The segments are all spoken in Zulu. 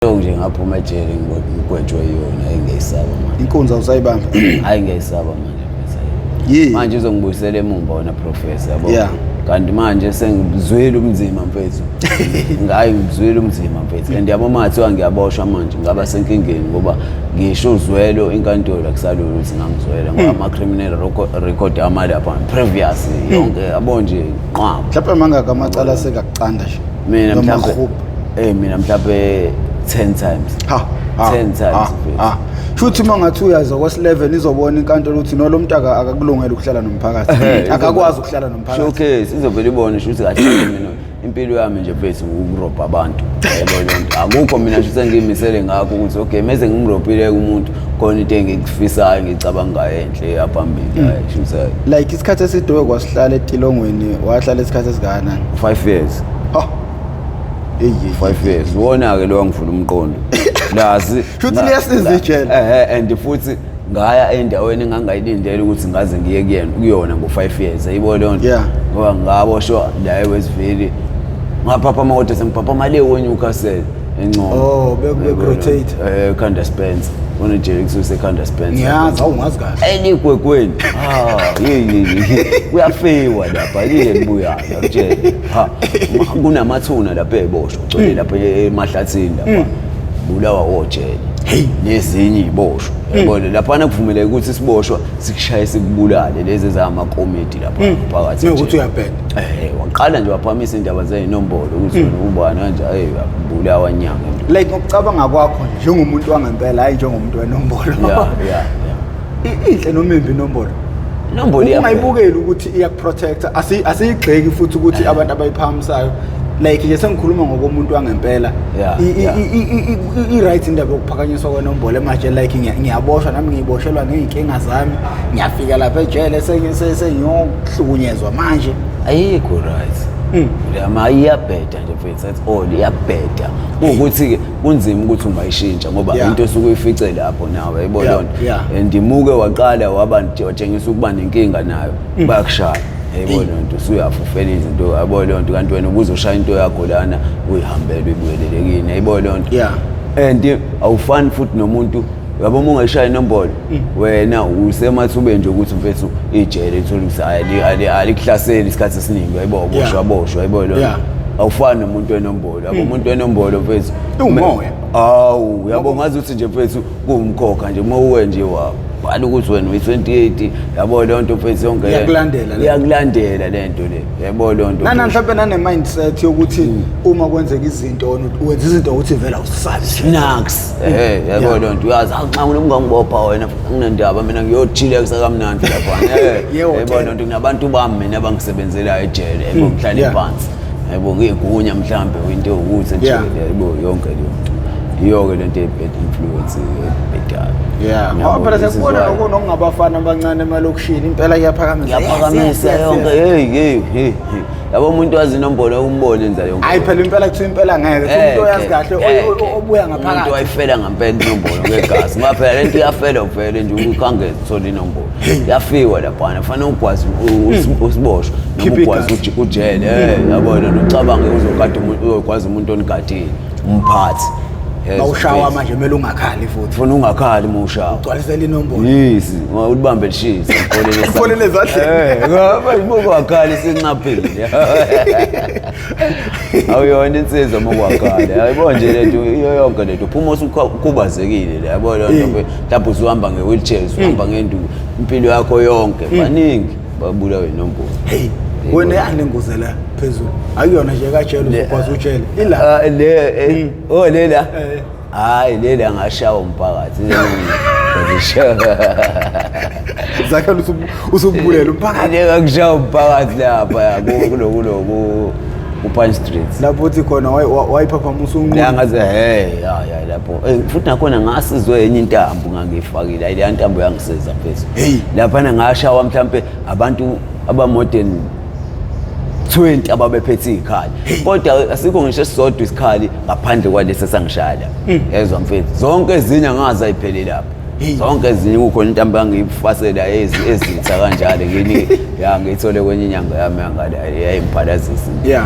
Yonke nje ngaphuma ejele ngigwetshwe yona engiyisaba manje. Inkunzi awusayibamba. Hayi ngiyisaba manje mfethu. Yini? Manje uzongibuyisela emumva wena professor yabo. Yeah. Kanti manje sengizwile umzima mfethu. Ngayi ngizwile umzima mfethu. And yabo mathi wangiyaboshwa manje ngaba senkingeni ngoba ngisho uzwelo inkantolo akusalula ukuthi ngangizwela ngoba hmm. ama criminal record ama lapha previous hmm. yonke yabo nje qhwa. Mhlawumbe mangaka amacala sekakucanda nje. Mina mhlawumbe Hey mina mhlawumbe 10 times. Ha. 10 times. Ha. ha. Shuthi uma ngathi uyaza kwa 11 izobona inkantolo ukuthi no lo mntaka akakulungela ukuhlala nomphakathi. Akakwazi ukuhlala nomphakathi. Showcase izovela ibone shuthi kahle mina impilo yami nje base ukurobha abantu yebo lento akukho mina nje sengimisele ngakho ukuthi okay meze ngimrobhile umuntu khona into engikufisayo ngicabanga ngayo enhle yaphambili hmm. hayi shumsa like isikhathi esidowe kwasihlala etilongweni wahlala isikhathi esikana 5 years ha five years wona-ke lowa ngivula umqondo lazi Shuthi liyasiza ijele. ehe and futhi ngaya endaweni engangayilindele ukuthi ngaze ngiye kuyena kuyona ngo-five years ayibo leyo nto Yeah. ngoba ngaboshwa la ewestville ngaphaphama kodwa sengiphaphama le wonyukasele encono Oh, beku- beku- rotate. Eh, ekhanda spence unejele kususe ekhanda spence ngiyazi awungazi kahle eligwegweni Ah, yeyeye kuyafiwa lapha yile libuyayo akutshele ha ma- kunamathuna lapha eboshwa ugcwele lapha e- emahlathini lapha bulawa wojele nezinye iboshwa yabona laphana kuvumeleke ukuthi isiboshwa sikushaye sikubulale lezi ezamakomiti lapha phakathi Njengokuthi nje. uyabheda. Eh, waqala nje waphamisa indaba zeyinombolo ukuthi wena ubani kanje hey bulawa nyanga like ngokucabanga kwakho njengomuntu wangempela hayi njengomuntu wenombolo yeah yeah yeah I- inhle noma imbi inombolo Inombolo iya- ungayibukeli ukuthi iyakuprotector Asi- asiyigxeki futhi ukuthi abantu abayiphakamisayo like nje sengikhuluma ngokomuntu wangempela Yeah, I- i- yeah. i- i- i- i- i-right indaba yokuphakanyiswa kwenombolo emanje like ngiya- ngiyaboshwa nami ngiyiboshelwa ngey'nkinga zami ngiyafika lapha ejele sengi- se- sengiyohlukunyezwa manje ayikho right Mm. yama iyabheda nje mfethu that's all iyabheda ukuthi-ke kunzima ukuthi ungayishintsha ngoba yeah. into esuke uyifice lapho nawe yayibona yeah. lonto yeah. and imuke waqala waba watshengisa ukuba nenkinga nayo mm. bayakushaya yayibona lonto usuyafa ufela izinto yayibona lonto kanti wena ubuze ushaya into yakho lana uyihambele uyibuyelelekini yayibona lonto yeah. and awufani futhi nomuntu yabo uma ungayishaya inombolo mm. wena usemathubeni nje ukuthi mfethu ijele ithole ukuthi alikuhlaseli isikhathi esiningi yayibo boshwa boshwa yayibo lona awufani nomuntu wenombolo yabo hmm. umuntu wenombolo mfethu ungoya awu yabo ngazi ukuthi nje mfethu kuwumkhokha nje uma uwe nje wabo bhala ukuthi wena uyi-28 yabo leyo nto mfethu yonke iyakulandela iyakulandela le nto le yabo leyo nto nana mhlawumbe nane-mindset yokuthi hmm. uma kwenzeka izinto wenza izinto ukuthi vela usabi snaks hmm. eh, yabo leyo nto uyazi nxa nginomngangibopha wena nginendaba mina ngiyothile kusakamnandi laphana eh, yabo leyo nto nginabantu bami mina abangisebenzelayo ejele engokuhlale phansi yabo ngiyigunya mhlambe into ewukuthi nje Yeah. yabo yonke leyo nto yiyo-ke le nto ye-bad influence ebhedayo yeah ngoba phela sekubona lokho nokungabafana abancane emalokishini impela iyaphakamisa ngiyaphakamisa yonke heyi heyi heyi heyi. yabo umuntu wazi inombolo yokumbona enza yonke hayi phela impela kuthiwa impela ngeke Eh, umuntu oyazi ke, kahle eh, o- o- ke. obuya umuntu ngaphakathi wayifela ngampela inombolo ngegazi ngoba phela le nto iyafela vele nje ukhange zithole inombolo yafiwa laphana kufanele ukwazi hmm. usiboshwa noma ukwazi ujele eh, hmm. yabona nocabange uzokade uyokwazi umuntu onigadile umphathi bawushawa manje kumele ungakhali futhi funa ungakhali uma ushawa ugcwalisela inombolo yes ulibambe lishisa ufolele ezadleni ngoba eh, ibukwakhala isinxaphile awuyona insizwa uma ukwakhala ayibona nje lento iyo yonke lento phuma usukhubazekile le yabona lento lapho usuhamba nge-wheelchair usuhamba ngenduku impilo yakho yonke baningi babulawe inombolo heyi wena yani le ngozi la phezulu akuyona nje kajele Le- uzokwazi utshele ila Ah, le eh, oh lela Eh. hayi lela angashawa umphakathi Ngizishawa. zakhe usubu- usubulela umphakathi Ngeke akushawa umphakathi lapha ya, ku- kulo kulo ku- ku-punch street lapho uthi khona wayi- wa- wayiphaphamusa unqunu la ngaze hey ya ya lapha Hey, futhi nakhona ngasizwe enye intambo ngangiyifakile ayi leya ntambo yangisiza mfethu Hey. laphana ngashawa mhlampe abantu abamodern 20 ababephethe izikhali kodwa asikho ngisho esisodwa isikhali ngaphandle kwalesi esangishaya la yezwa mfethu zonke ezinye angazi ayiphelele lapho zonke ezinye kukhona into angangiyifasela ezitha kanjalo ngini ya ngiyithole kwenye inyanga yami yangale yayimphalaziso eh,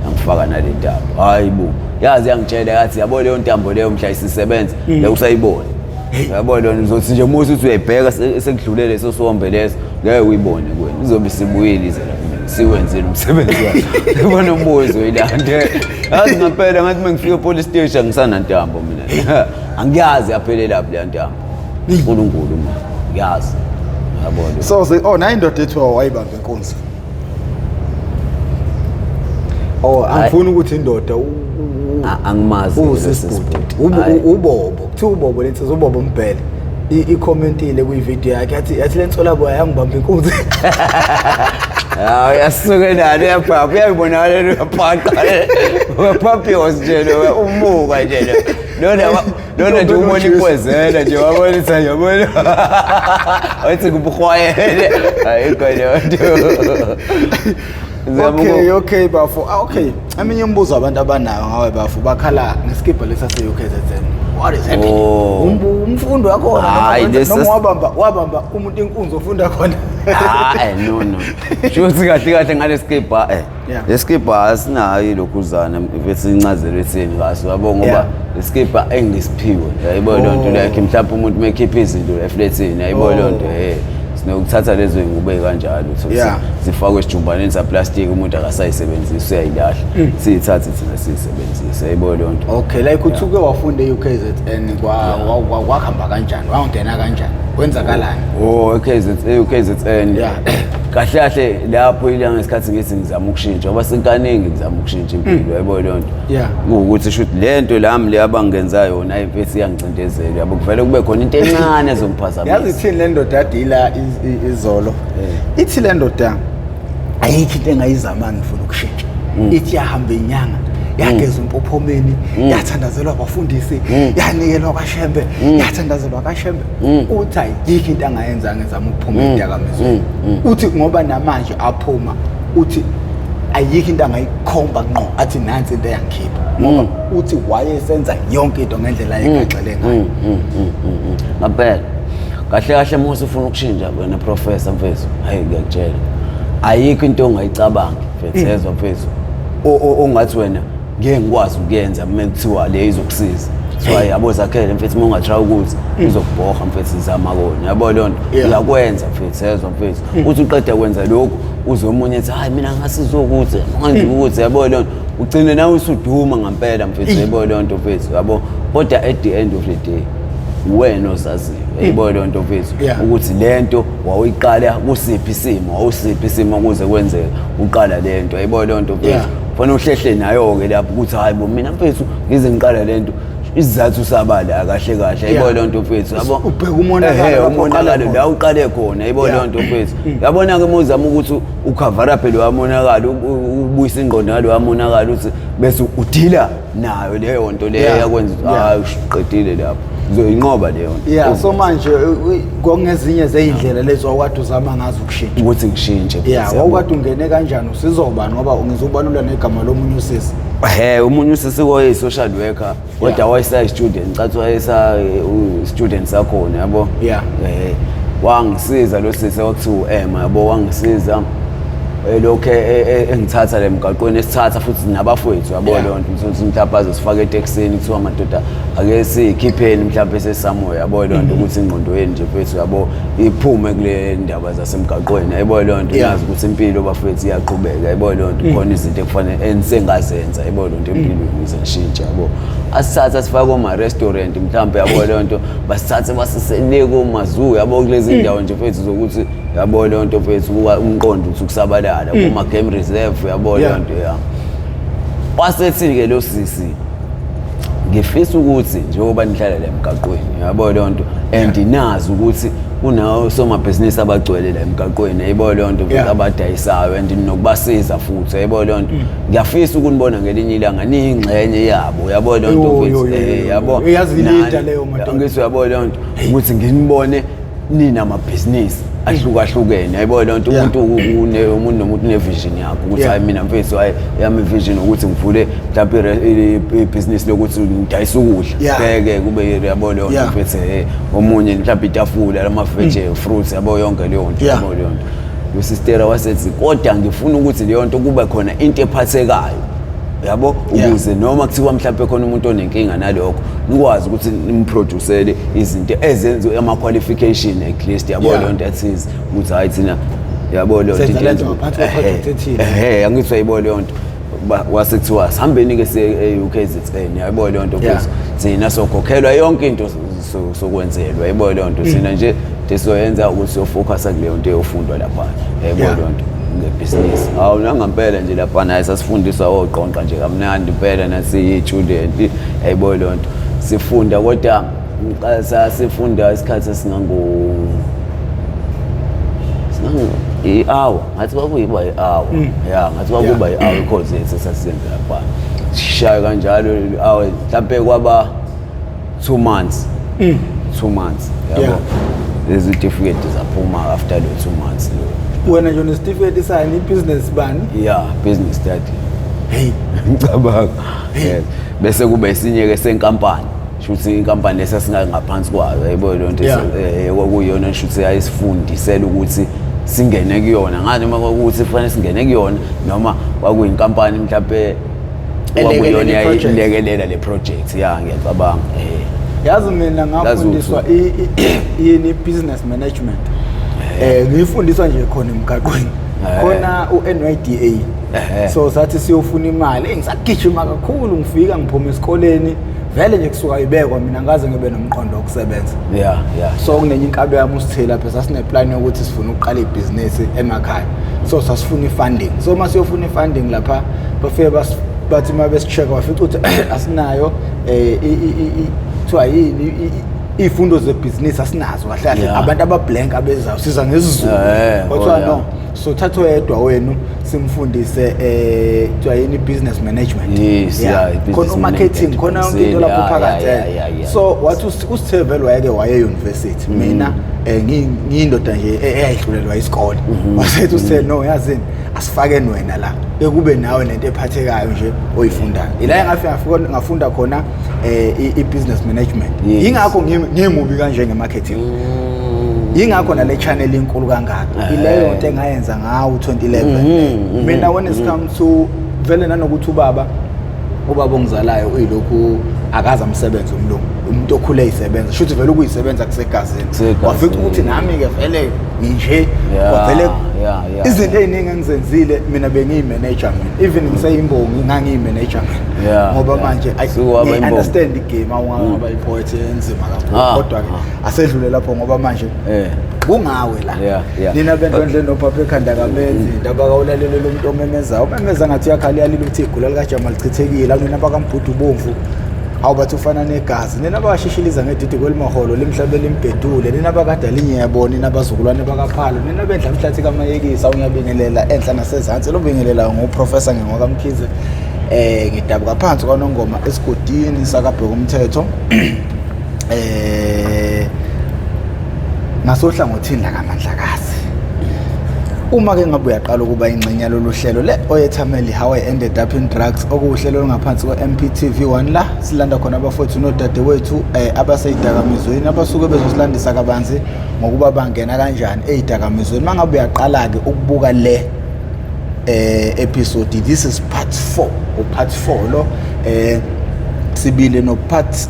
yangifaka nale ntambo hhayi bo yazi yangitshela yathi yabo leyo ntambo leyo mhla isisebenza mm. lekusayibona yabo lona uzothi nje musa uthi uyayibheka sekudlule leso sombe leso ngeke uyibone kuwena izobe isibuyile ize la siwenzile umsebenzi wakhe yabona umbuzo ilande yazi ngampela ngathi uma ngifika epolice station ngisanantambo mina angiyazi yaphelelaphi leya ntambo unkulunkulu ma ngiyazi yabona so ze oh nayo indoda ethiwa wayibamba inkunzi oh angifuni ukuthi indoda angimazi usisibhuti ubobo kuthiwa ubobo lensiza ubobo umbhele i-commentile kwividiyo yakhe yathi yathi le nsolaboya yangibamba inkunzi hawu yasuke nalo uyabhabha uyayibonakala uyabhaqa uyaphaphiyos nje lo umuka nje lo lona lona nje umona ikwezela nje wabonisa nje wabona wathi kubuhwayele hayi kodwa okay okay bafo ah, okay eminye umbuzo abantu abanayo ngawe bafo bakhala ngesikibha lesa se UKZN what is happening oh. umfundi wakho noma wabamba wabamba umuntu inkunzi ofunda khona hayi ah, eh, no no shuthi kahle kahle ngalesikibha eh Yeah. Lesikibha asinayo ilokhuzana bese incazelo ethini kaso yabo ngoba Yeah. lesikibha engisiphiwe yayibo le nto like mhlawumbe umuntu mekhipha izinto eflethini yayibo le nto eh sinokuthatha lezo zingubo kanjalo so Yeah. si- zifakwe esijumbaneni saplastic umuntu akasayisebenzisi uyayilahla siyithathe thina siyisebenzise yayibo le nto okay like uthi uke wafunda e-ukzn kwa- wa- wa- wakuhamba kanjani wangena kanjani kwenzakalani Oh, KZN, KZN. Yeah. kahle kahle lapho ila ngesikhathi ngithi ngizama ukushintsha ngoba sekaningi ngizama ukushintsha impilo mm. yabo leyo nto yeah ukuthi shuthi le nto lami le abangenza yona ayimfesi iyangicindezela yabo kuvele kube khona into encane ezongiphazamisa yazi ithini le ndoda adila izolo eh. ithi le ndoda ayikho into engayizama ngifuna ukushintsha mm. ithi yahamba inyanga yageza umpophomeni mm. yathandazelwa abafundisi yanikelwa kashembe yathandazelwa kashembe mm. uthi ayikho into angayenzanga ezama ukuphuma mm. edakamizweni mm. mm. uthi ngoba namanje aphuma uthi ayikho into angayikhomba ngqo athi nansi into eyangikhipha ngoba mm. uthi wayesenza yonke into ngendlela mm. yekagxile ngayo ngampela mm, kahle kahle musa ufuna ukushintsha wena professor mfethu hayi ngiyakutshela ayikho into ongayicabangi mfethu ezwa mfethu ongathi wena ngeke ngikwazi ukuyenza uma kuthiwa le izokusiza so hayi yabo zakhele mfethu uma ungatry ukuthi izokubhoha mfethu zama kona yabo leyo nto Yeah. uyakwenza mfethu yezwa mfethu uthi uqeda kwenza lokhu uze omunye ethi hayi mina ngasizokuthi manje ukuthi yabo leyo nto ugcine nawe usuduma ngampela mfethu yabo leyo nto mfethu yabo kodwa at the end of the day uwena ozaziyo yayibona leyo nto mfethu Yeah. ukuthi le nto wawuyiqala kusiphi isimo wawusiphi isimo kuze kwenzeka uqala le nto yayibona leyo nto mfethu Yeah. Fana uhlehle nayo ke lapho ukuthi hayi bo mina mfethu ngize ngiqala lento isizathu sabale akahle kahle ayibo le nto mfethu yabo ubheka umonakalo umonakalo la uqale khona ayibo le nto mfethu mm. yabona ke mozama ukuthi ukhavara phela wamonakala ubuyisa ingqondo ngalo wamonakala uthi bese udila nayo leyo nto leyo Yeah. yakwenza ukuthi Yeah. hayi uqedile lapho ngizoyinqoba leyo nto yeah so manje u- u- kwakungezinye zey'ndlela lezi wawukade uzama ngazo ukushintsha ukuthi ngishintshe ya futhi, wawukade ungene kanjani usizobani ngoba ngizobalula negama lomunye usisi he omunye usisi wayeyi-social worker kodwa Yeah. wayesayi-student cathi wayesa-student sakhona yabo Yeah. Eh, wangisiza lo sisi okuthiwa u-ema yabo wangisiza elokhu e- e- e- engithatha le mgaqweni esithatha futhi nabafowethu yabo Yeah. leyo nto ukuthi ukuthi mhlawumbe sifake etekisini kuthiwa madoda ake sikhipheni mhlawumbe sesamoya yabo leyo nto ukuthi ingqondo yenu nje mfethu yabo iphume kule ndaba zasemgaqweni yabo leyo nto Yeah. nazi ukuthi impilo bafethu iyaqhubeka yabo leyo nto khona izinto ekufanele engisengazenza yabo leyo nto empilweni ukuze ngishintshe yabo asithatha sifake koma-restaurant mhlawumbe yabo leyo nto basithathe basisele komazuu yabo kulezi ndawo nje mfethu zokuthi yabo leyo nto mfethu kuka umqondo uthi ukusabalala mm. kuma game reserve yabo leyo nto ya wasethi ke lo sisi ngifisa ukuthi njengoba nihlala la emgaqweni yabo leyo nto and nazi ukuthi kunawo somabhizinisi abagcwele la emgaqweni ayibo leyo nto futhi abadayisayo and nokubasiza futhi ayibo leyo nto mm. ngiyafisa ukunibona ngelinye ilanga niyingxenye yabo yabo leyo nto futhi eh, yabo ngithi yabo leyo nto ukuthi nginibone nina amabhizinisi ahlukahlukene yayibona loo nto umuntu une- umuntu nomuntu unevision yakhe ukuthi Yeah. hayi mina mfethu hayi yami ivision ukuthi ngivule mhlawumpe ire- i- i- ibhizinisi lokuthi ngidayise ukudla Yeah. ngeke kube yabo leyo nto Yeah. mfethu eh, omunye mhlawumpe itafula lamaveje fruits yabo yonke leyo nto Yeah. yabo leyo nto usistera wasethi kodwa ngifuna ukuthi leyo nto kube khona into ephathekayo yabo ukuze yeah. noma kuthiwa mhlawumbe khona umuntu onenkinga nalokho nikwazi ukuthi nimproducele izinto ezenziwe ama-qualification at least yabo yeah. leyo nto athize ukuthi hhayi thina yabo leyo ntoehe angithi uyayibo leyo nto wase kuthiwa sihambeni-ke se-ukzn yayibo leyo nto kuthi thina sokhokhelwa yonke into sokwenzelwa yebo leyo nto mm. sina nje sizoyenza ukuthi siyofocus kuleyo nto eyofundwa lapha yebo leyo nto ngebhizinisi hawu nangampela nje lapha naye sasifundiswa oqonqa nje kamnandi impela nasiyitshudenti yayibo leyo nto sifunda kodwa sasifunda isikhathi esingango i-hour ngathi kwakuyiba i-hour mm. ya ngathi kwakuba i-hour ikhozi yethu esasiyenza lapha sishaye kanjalo i-hour mhlawumpe kwaba two months mm. two months yabo yeah. lezi tifiketi zaphuma after the two months lo wena nje nesitifiketi sani business bani yeah business study hey ngicabanga yes bese kuba isinye ke senkampani shuthi inkampani lesa singangaphansi kwayo yayibona le nto eh, kwakuyona shuthi yayisifundisela ukuthi singene kuyona ngani uma kwakuthi kufanele singene kuyona noma kwakuyinkampani mhlawumbe Elekelele Wabuyona project. ilekelela le project ya ngiyacabanga eh yazi mina ngafundiswa i- i- yini business management eh ngiyifundiswa nje khona emgaqweni Eh. khona uNYDA Eh. so sathi siyofuna imali Eh, ngisagijima kakhulu ngifika ngiphuma esikoleni vele nje kusuka ibekwa mina ngaze ngibe nomqondo wokusebenza ya ya so kunenye inkalo yami usithela lapha sasineplan yokuthi sifuna ukuqala ibhizinisi emakhaya so sasifuna i-funding so uma siyofuna i-funding lapha bafike bathi uma besi-check bafica ukuthi asinayo um kuthiwa yini iy'fundo zebhizinisi asinazo kahle kahle abantu abablank abezayo siza ngesizulu eh, kwathiwa oh, no so thatha oyedwa wenu simfundise um kuthiwa yini i-business management khona umarketing khona yonke into lapho phakathi so wathi usithevele wayeke waye-university mina eh, ngiyindoda nje e-, eyayihlulelwa isikole mhm. wasethi usel no yazini asifakeni wena la bekube nawe nento ephathekayo nje oyifundayo ila engafika ngafunda khona eh, i-business management yingakho ngimubi kanje nge-marketing mm. yingakho nale channel inkulu kangaka eh. ileyo nto engayenza ngawo 2011 mhm, mhm, mina when it comes to vele nanokuthi ubaba ubaba ongizalayo uyilokhu akaze amsebenze umlungu umuntu okhule eyisebenza shuthi vele ukuyisebenza kusegazini wafica ukuthi nami-ke vele nginje wavele izinto ey'ningi engizenzile mina bengiyimeneja mina even ngiseyimbongi ngangiyimeneja mina ngoba manje i-understand igame awungangaba mm. ipoet enzima kakhulu ah, kodwa-ke ah. asedlule lapho ngoba manje eh kungawe la yeah, yeah. nina bento endle nobaba ekhanda kamenzi mm. ndaba kawulalele lo muntu omemezayo umemeza ngathi uyakhala yalile ukuthi igula likajama lichithekile akunina bakambhudu ubomvu hawu bathi ufana negazi nina bakashishiliza ngedidi kwelimaholo limhlabe limbhedule nina bakadala inyebo nina bazukulwane bakaphalo nina bendla mhlathi kamayekisa unyabingelela enhla nasezansi lobingelelayo nguprofesa ngengokamkhize um eh, ngidabuka phansi kwanongoma esigodini sakabheka umthetho eh ngasohlangothini la kaMandlakazi uma ke ngabe uyaqala ukuba ingxenye yalolu hlelo le oyethameli how i ended up in drugs okuwuhlelo olungaphansi kwe-mptv 1 la silanda khona abafowethu nodadewethu um eh, abaseyidakamizweni abasuke bezosilandisa kabanzi ngokuba bangena kanjani eyidakamizweni uma ngabe uyaqala-ke ukubuka le eh episode this is part 4 upart 4 lo eh sibile no part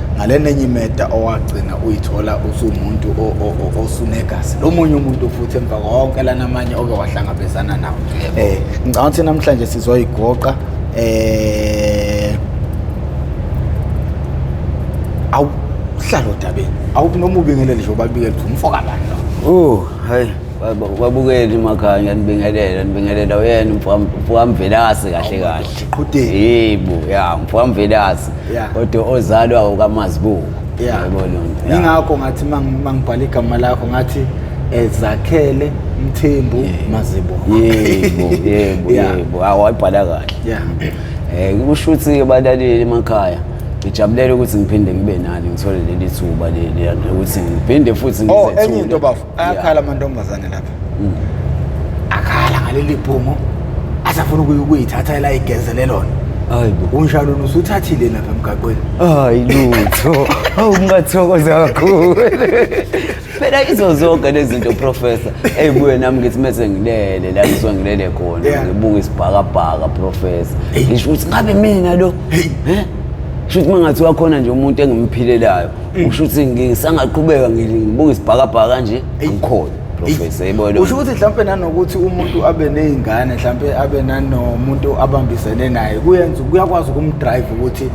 ngale nenye imeda owagcina uyithola usuwumuntu osunegazi lo munye umuntu futhi emva konke lana amanye oke wahlangabezana nawo um ngicanga ukuthi namhlanje sizoyigoqa um awuhlala odabeni awuthi noma ubingelele nje ubabikele ukuthi umfokabani lo o oh, hayi babukeli makhaya ngiyanibingelela nibingelela uyena mfokamvelase kahle kahle Qhudeni. Yebo, ya mfamvelasi. Yeah. Kodwa ozalwa ukamazibuko. Yeah. Yebo lonto. Yeah. Ingakho ngathi mang- mangibhala igama lakho ngathi eh, zakhele mthembu mazibo Yebo, yebo, Yeah. yebo. Hawu wayibhala kahle. yeah Eh kusho ukuthi abalaleli emakhaya ngijabulela ukuthi ngiphinde ngibe nani ngithole leli thuba leli ukuthi ngiphinde futhi oh ngizethule. enye into bafo ayakhala amantombazane lapha mm. akhala ngaleli bhumo asafuna ukuyithatha elayigezele lona hayi bo unshalona usuthathile lapha emgaqweni hayi lutho awu ngathokoza kakhulu phela izo zonke lezi zinto professor eyibuye nami ngithi mese ngilele la ngizwa ngilele khona ngibuka isibhakabhaka professor ngisho ukuthi ngabe mina lo eh shuthi mangathi wakhona nje umuntu engimphileelayo usho ukuthi ngisangaqhubeka ngibuka isibhakabhaka kanje angikhona professor yayibona usho ukuthi mhlawumbe nanokuthi umuntu abe nezingane mhlawumbe abe nanomuntu abambisene naye kuyenza kuyakwazi ukumdrive ukuthi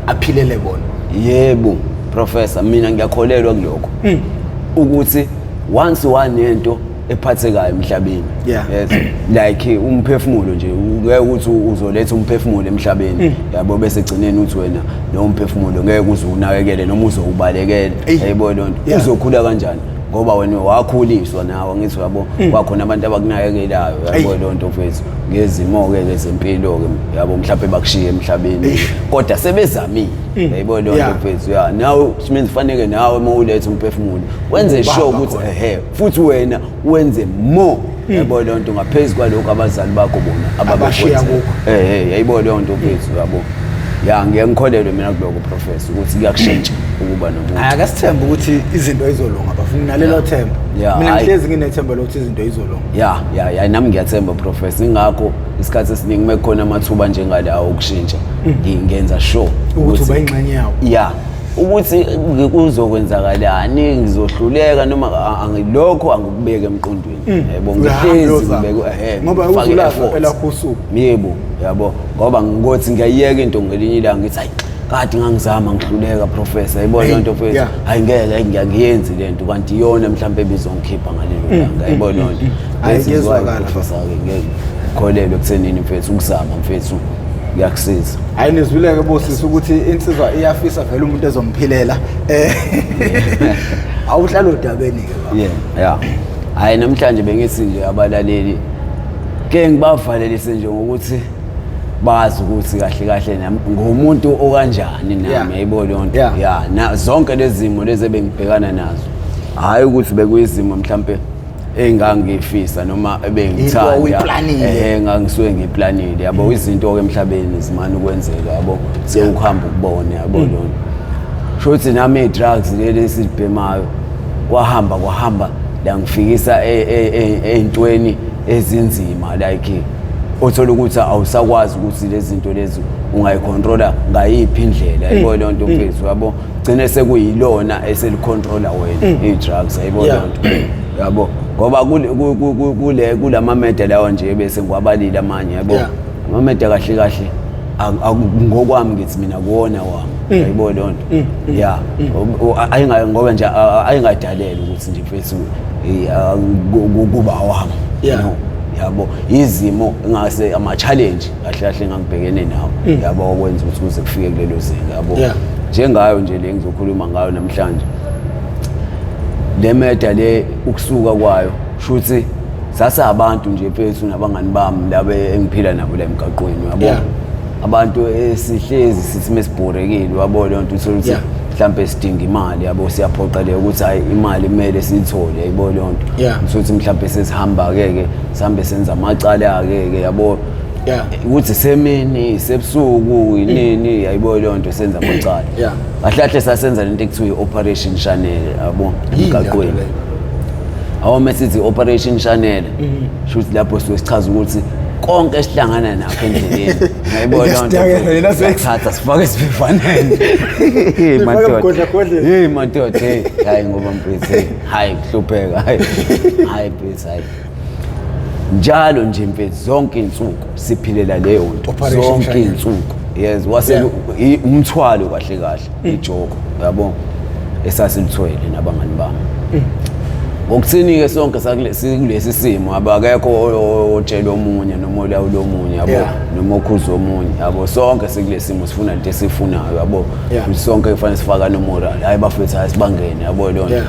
aphilele bona yebo professor mina ngiyakholelwa kuloko hmm. ukuthi once one into ephathekayo emhlabeni Yeah. yes like umphefumulo nje ngeke ukuthi uzoletha umphefumulo emhlabeni Mm. yabo bese gcineni uthi wena lo mphefumulo ngeke uze unakekele noma uzowubalekela Eyi. yayibona loo nto Yeah. uzokhula kanjani ngoba wena wakhuliswa nawe ngithi yabo Mm. kwakhona abantu abakunakekelayo Eyi. yabo loo nto mfethu ngezimo-ke ke zempilo-ke yabo mhlawumbe bakushiye emhlabeni kodwa sebezamile Mm. yayibona loo nto Yeah. mfethu ya nawe which means faneke nawe uma uletha umphefumulo wenze Ubamba sure ukuthi khona. ehe futhi wena wenze more hmm. yabo leyo nto ngaphezu kwalokho abazali bakho bona ababashiya kukho eh eh yayibo leyo nto mfethu yabo ya ngeke ngikholelwe mina kuloko professor ukuthi kuyakushintsha ukuba nomuntu hayi akasithembe ukuthi izinto izolunga bafuna nalelo themba mina ngihlezi nginethemba lokuthi izinto izolunga ya ya ya nami ngiyathemba professor ingakho isikhathi esiningi uma kukhona amathuba njengalawo okushintsha hmm. ngingenza sure ukuthi uba ingxenye yawo ya ukuthi kuzokwenzakalani ngizohluleka noma angilokho angikubeke emqondweni mm. yabo ngihlezi ngibeke ngoba uzulapha elakho usuku yebo yabo ngoba ngothi ngiyayeka into ngelinye ilanga ngithi hayi kade ngangizama ngihluleka professor yayibona hey, into fethu yeah. hayi ngeke ngiyakuyenzi lento kanti iyona mhlawumbe ebizongikhipha ngalelo mm, langa yayibona mm, into ayizwakala professor ngeke ngikholelwe ekuthenini mfethu ukuzama mfethu kuyakusiza hayi nizwileke bosisi ukuthi insizwa iyafisa vele umuntu ezomphilela eh awuhlala odabeni ke yeah yeah hayi namhlanje bengithi nje abalaleli ke ngibavalelise nje ngokuthi bazi ukuthi kahle kahle nami ngumuntu okanjani nami Yeah. yayibo leyo nto Yeah. ya na zonke lezi zimo lezi ebengibhekana nazo hhayi ukuthi bekuyizimo mhlampe engangifisa noma ebengithandaehe ngangisuke ngiplanile yabo mm. izinto-ke emhlabeni zimane ukwenzeka yabo sewukuhamba ukubone yabo mm. lona sho ukuthi nami i-drugs leli esilibhemayo kwahamba kwahamba langifikisa e, e, e, ey'ntweni ezinzima like othola ukuthi awusakwazi ukuthi lezi zinto lezi ungayikhontrola ngayiphi indlela yabo mm. leyo nto mfethu yabo gcine sekuyilona eselicontrola wena mm. i-drugs ayibona yeah. nto yabo ngoba kule kulama media lawa nje bese ngwabalile amanye yabo yeah. ama media kahle kahle ngokwami ngithi mina kuwona wami mm. yayibona leyo nto mm. mm. ya ayingayo ngoba nje ayingadalele ukuthi nje mfethu kuba wami yabo izimo ngase ama challenge kahle kahle engangibhekene nawo Mm. yabo okwenza ukuthi kuze kufike kulelo zinga yabo Yeah. njengayo nje le ngizokhuluma ngayo namhlanje le meda le ukusuka kwayo shuthi sase abantu nje phethu nabangani bami laba engiphila nabo la emgaqweni yabo Yeah. abantu esihlezi sithi mesibhorekile wabo leyo nto uthole ukuthi Yeah. mhlawumbe sidinga imali yabo siyaphoqeleka ukuthi hayi imali kumele siyithole yabo leyo nto Yeah. Uthole ukuthi mhlawumbe sesihamba-ke ke sihambe senza amacala-ke ke yabo yeah ukuthi semini sebusuku yinini yayibo leyo nto senza amacala yeah bahlahle sasenza lento ekuthiwa i-operation channel yabo emgaqweni awu mesithi operation channel mhm. shuthi lapho siwe sichaza ukuthi konke esihlangana nakho endleleni ngayibona lento sithatha sifake esivivaneni hey madoda hey madoda hey hayi ngoba mfethu hayi kuhlupheka hayi hayi please hayi njalo nje mfethu zonke insuku siphilela leyo nto Operation zonke Shanyana. insuku yes wase Yeah. i- umthwalo kahle kahle ijoko yabo esasilithwele nabangani bami ngokuthini ke sonke sakule- sikulesi simo abakekho o- otshela omunye noma olawula omunye yabo Yeah. noma okhuza omunye yabo sonke sikulesi simo sifuna into esifunayo yabo Yeah. sonke kufanele sifakane umoral hayi bafethu hayi sibangene yabo leyo nto Yeah.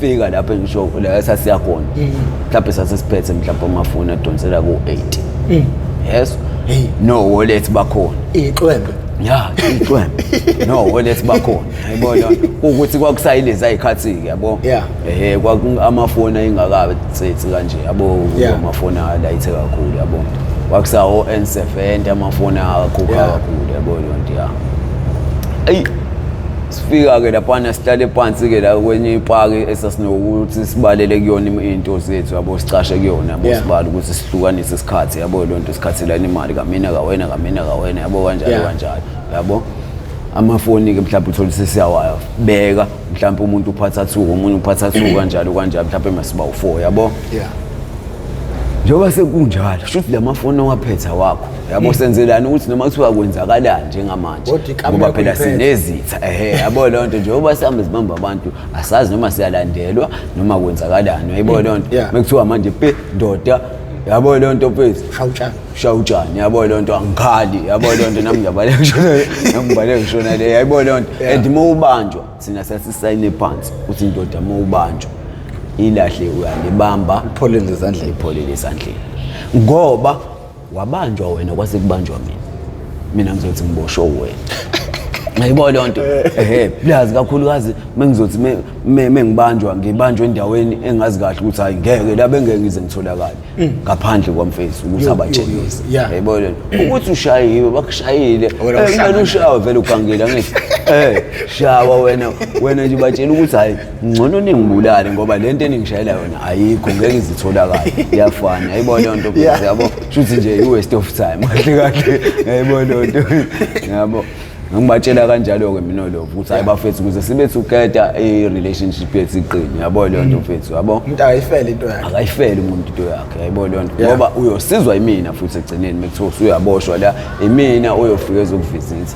fika lapho ngisho la esasiya khona eh. mhlawumbe sasesiphethe mhlawumbe amafoni adonsela ku-8 eh. yes eh. no wallet bakhona ixwembe ya ixwembe no wallet bakhona yabona ukuthi kwakusayilezi ayikhathi-ke yabo ehe amafoni ayingakabi tsethi kanje yabo amafoni alayithe kakhulu yabo kwakusawo n seven amafoni akakhupha kakhulu yabo yonto ya eyi sifika-ke laphana sihlale phansi-ke la kwenye ipaki esasinokuthi sibalele kuyona im- iy'nto zethu yabo sicashe kuyona yabo Yeah. sibale ukuthi sihlukanise isikhathi yabo loo nto sikhathelana imali kamina kawena kamina kawena yabo kanjalo Yeah. kanjalo yabo amafoni-ke mhlawumbe uthole ukuthi siyawaya beka mhlawumbe umuntu uphatha two omunye uphatha two kanjalo kanjalo mhlawumbe masiba u-four yabo yeah njengoba sekunjalo shuthi la mafoni owaphetha wakho yabo senzelani ukuthi noma kuthiwa kwenzakalani njengamanje Kodwa ikamela ngoba phela kuyiphethe. sinezitha ehe yabo leyo nto njengoba sihambe sibamba abantu asazi noma siyalandelwa noma kwenzakalani yabo leyo nto Yeah. mekuthiwa manje pe ndoda yabo leyo nto mfethu shawutshani shawutshani yabo leyo nto angikhali yabo leyo nto nami ngiyabaleka ngishona nami ngibaleka ngishona le yabo leyo nto Yeah. and uma ubanjwa thina sasisayine phansi ukuthi indoda uma ubanjwa ilahle uyalibamba Ipholele ezandleni. ipholele ezandleni ngoba wabanjwa wena kwase kubanjwa mina mina ngizothi ngiboshwe wena Ngiyibona leyo nto. Ehhe, plus kakhulukazi mengizothi me- me- mengibanjwa ngibanjwa endaweni engazi kahle ukuthi hayi ngeke la bengeke ngize ngitholakale ngaphandle kwamfesi ukuthi Yo, abatshengise. yo, yo, yeah. Yayibona leyo nto. Ukuthi ushayiwe bakushayile. Wena Eh, ushaya. kumele ushawe vele ugangile angithi. Eh, shawa wena wena nje batshela ukuthi hayi ngcono ningibulale ngoba le nto eningishayela yona ayikho ngeke izitholakale iyafana yayibo leyo nto phela yabo shuthi nje i-waste of time kahle kahle yayibo leyo nto yabo ngibatshela kanjalo-ke mina lokho ukuthi hayi bafethu kuze sibe together i-relationship yethu iqini yabo leyo nto mfethu yabo umuntu akayifele into yakhe akayifele umuntu into yakhe yayibo leyo nto ngoba uyosizwa imina futhi ekugcineni uma kuthiwa usuyaboshwa la imina oyofika ezokuvizitha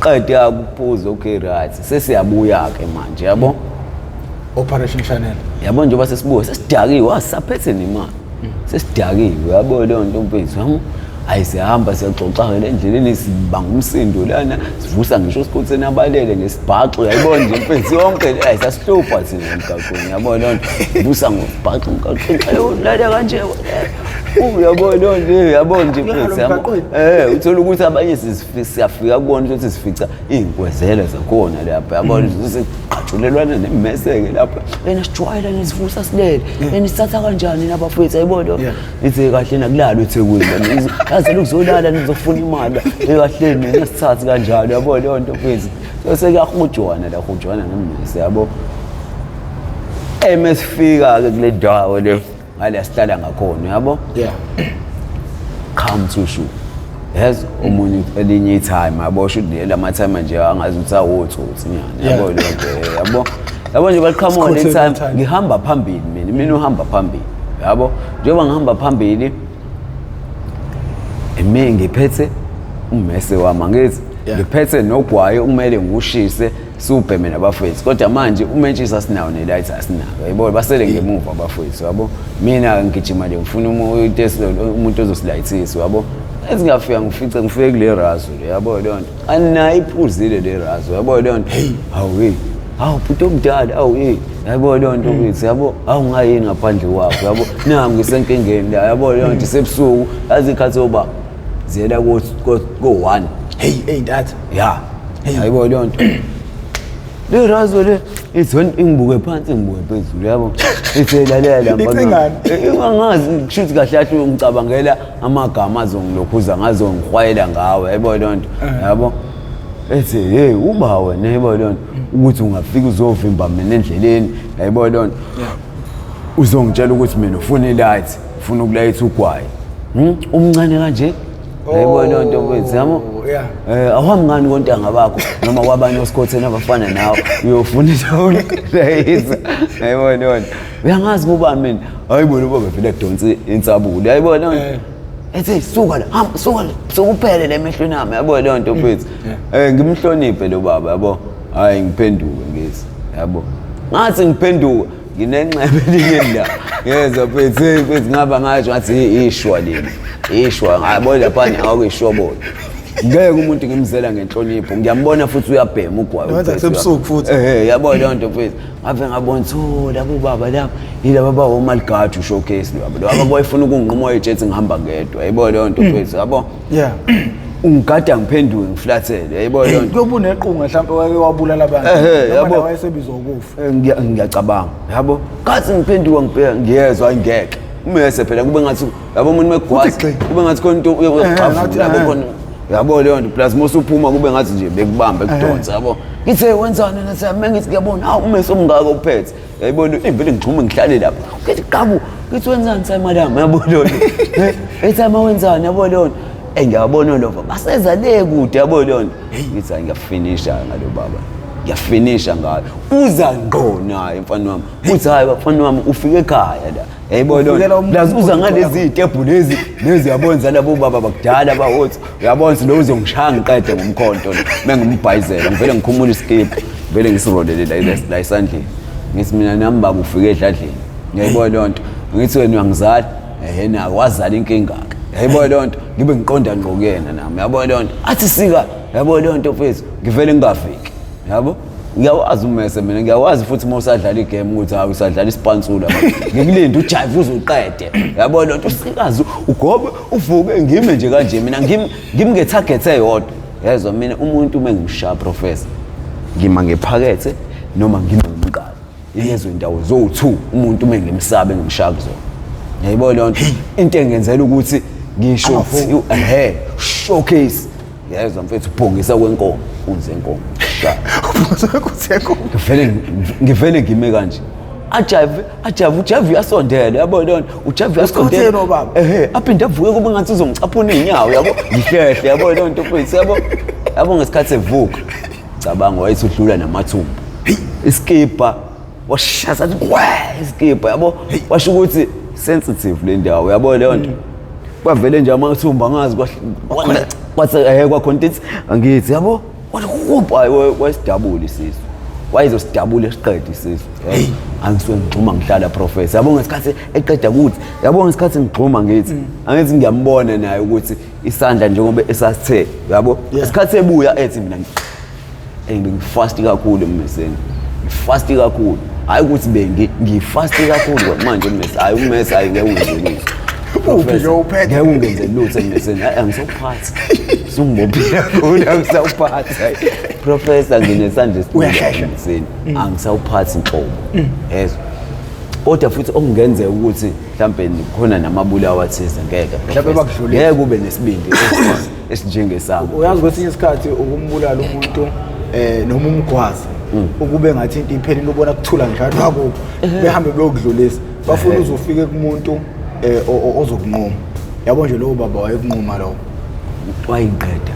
qede akuphuze okay right sesiyabuya ke manje yabo operation channel yabo njengoba sesibuya sesidakiwe wasaphethe nemali sesidakiwe yabo leyo nto mfethu yabo ayi sihamba siyaxoxa-ke le ndleleni sibanga umsindo lana sivusa ngisho sikhotheni abalele ngesibhaxo yayibona nje mfethu yonke le ayi sasihlupha thina emgaqweni yabo leyo nto vusa ngosibhaxo emgaqweni ayolala kanje uyabo leyo nto yabo nje mfethu yabo um uthole ukuthi abanye sizi siyafika kubona ukuthi sifica iy'nkwezele zakhona lapho yabona mm. ukuthi sigqatshulelwana nemeseke lapho yena sijwayela nisivusa silele yena sithatha kanjani nabafowethu ayibona ithi kahle nakulala ethekwini yaze lokuzolala nizofuna imali ekahle nina sithathi kanjalo yabona leyo nto fethu so sekuyahujwana la hujwana nemmese yabo emesifika-ke kule ndawo le ngale asihlala ngakhona yabo yeah come to shoe yazi omunye elinye itime yabo sho ukuthi lama time nje angazi ukuthi awotsotsi nyana yabo leyo yabo yabo nje baqhamuka le time ngihamba phambili mina mina uhamba phambili yabo njengoba ngihamba phambili imi ngiphethe ummese wami angithi ngiphethe nogwayi okumele ngiwushise Super mina bafowethu kodwa manje umentshisi asinawo nelight asinako yebo basele ngemuva abafowethu yabo mina ngigijima nje ngifuna umuntu ozosilayithisa yabo ezingafika ngifice ngifike kule razo le yabo leyo nto anayi iphuzile le razo yabo leyo nto heyi hawu heyi hawu bhuti omdala awu heyi yabo leyo nto kithi yabo hawu ngayini ngaphandle kwakho yabo nangu ngisenkingeni la yabo leyo nto isebusuku yazi ikhathi yoba ziyela ko-one heyi eyi ntatha ya ayibo leyo nto lirazo le izon ingibuke phansi ngibuke phezulu yabo iselalela angazi kushuthi kahle kahle ngicabangela amagama azongilokhuza ngazongihwayela ngawo yabo leyo nto eh. yabo ethi hey uba wena yabo leyo nto ukuthi ungafika uzovimba mina endleleni yabo leyo nto uzongitshela ukuthi mina ufuna ilight ufuna ukulayitha ugwayi Hmm? umncane kanje yayibona loo nto mfethu yabo Oh, yeah. um awuhambi ngani kontanga bakho noma kwabanye osikhotheni abafana nawe uyofuna intolayisa yayibona loo nto uyangazi kubani mina hayi bona uba bevele adonse insabule yayibona loo nto ethi suka la hamba suka la sokuphele le mehlweni ami yabo leyo nto mfethu um ngimhloniphe lo baba yabo hhayi ngiphenduke ngezi yabo ngathi ngiphenduka nginenxeba elingendawo ngezwa phethe phethi ngaba ngasho ngathi ishwa leli ishwa ngabo laphana awukisho bona ngeke umuntu ngimzela ngenhlonipho ngiyambona futhi uyabhema ugwayi Wenza uPhethwe. kusebusuku futhi. Eh, yabo leyo nto mfethu ngave ngabona ukuthi oh labo baba labo yilaba bawo maligadi ushowcase labo laba boyifuna ukunginquma oyejethi ngihamba ngedwa yabo leyo nto mfethu yabo yeah ungigada ngiphenduke ngiflathele yabo leyo nto kuyoba unequnga mhlawumbe wake wabulala abantu Ehhe, Noma yabo. naye wayesebizwa ukufa Eh, ngiyacabanga yabo kathi ngiphenduka ngibheka ngiyezwa ayingeke umese phela kube ngathi yabo umuntu megwazi kube ngathi khona into uyoxhavula eh, yabo eh. khona yabo leyo nto plus mose uphuma kube ngathi nje bekubamba ekudonsa yabo ngithe wenzani nasiyame ngithi ngiyabona hawu umese omngako uphethe yayibona impela ngixhume ngihlale lapho ngithi qabu ngithi wenzani sayi madam yabo leyo nto ethi ama wenzani yabo leyo nto engiyabona lova baseza le kude yabo leyo nto ngithi angiyafinisha ngalo baba ngiyafinisha ngayo uza ngqo naye mfana wami uthi hayi bafana wami ufike ekhaya la yayibona Ufikela umuntu lazi uza oqoqayo. ngalezi itebhu lezi lezi yabonza labo baba bakudala bawothi uyabonza lo uzongishaya ngiqede ngomkhonto lo mengimbhayizela ngivele ngikhumula isikibha ngivele ngisirolele la la- la esandleni ngithi mina nami baba ufike edladleni ngiyayibona leyo nto ngithi wena uyangizala ehe nayo wazala inkinga-ke yayibona leyo nto ngibe ngiqonda ngqo kuyena nami yabona leyo nto athi sika yabo leyo nto mfethu ngivele ngingafiki yabo ngiyawazi umese mina ngiyawazi futhi uma usadlala igame ukuthi hayi usadlala isipansula ngikulinde ujayive uzuqede yabo lento sikazi ugobe uvuke ngime nje kanje mina ngimngetarget eyodwa yezwa mina umuntu uma ngimshaya professor ngima ngephakethe noma ngime ngomqala yezwa indawo zowu-two umuntu uma ngimsabe ngimshaya kuzona yayibona leyo nto into engenzela ukuthi ngisho ehe showcase yayezwa mfethu ubhongisa kwenkomo unzi yenkomo ngivele ngivele ngime kanje ajavi ajavi ujavi uyasondela yabo lona ujavi uyasondela ehe aphinde avuke kuba ngathi uzongicaphuna iy'nyawo yabo ngihlehle yabo leyo nto mfethu yabo yabo ngesikhathi evuka cabanga wayethi udlula namathumbu isikibha washaza athi kwe isikibha yabo washo ukuthi sensitive le ndawo yabo leyo nto kwavele nje amathumba angazi kwahle- kwase eh kwakhonta ithi angithi yabo wathi kubha wayesidabula isisu wayezosidabula esiqede isisu Hey. angisuke ngigxuma ngihlala professor yabo ngesikhathi eqeda kuthi yabo ngesikhathi ngigxuma ngithi angithi ngiyambona naye ukuthi isandla njengoba esasithe yabo Yes. ngesikhathi ebuya ethi mina eyi bengifasti kakhulu emmeseni ngifasti kakhulu hhayi ukuthi bengi ngifasti kakhulu manje ummesi hhayi ummesi hhayi ngeke ungenze lutho uphi ke uphethe ngeke ungenze lutho emmeseni hhayi angisawuphathi sungibophile kakhulu angisawuphathi hhayi professor nginesandla esibuhlungu emmeseni mm. angisawuphathi nhlobo mm. yezwa kodwa futhi okungenzeka ukuthi mhlawumbe khona namabulawa athize ngeke mhlawumbe bakudlulile ngeke ube nesibindi esinjengesami uyazi kwesinye isikhathi ukumbulala umuntu eh noma umgwazi mm. ukube ngathi into iphelile ubona kuthula njalo kwakubo behambe beyokudlulisa bafuna uzofike kumuntu eh ozokunqoma yabo nje lowo baba wayekunqoma lowo wayinqeda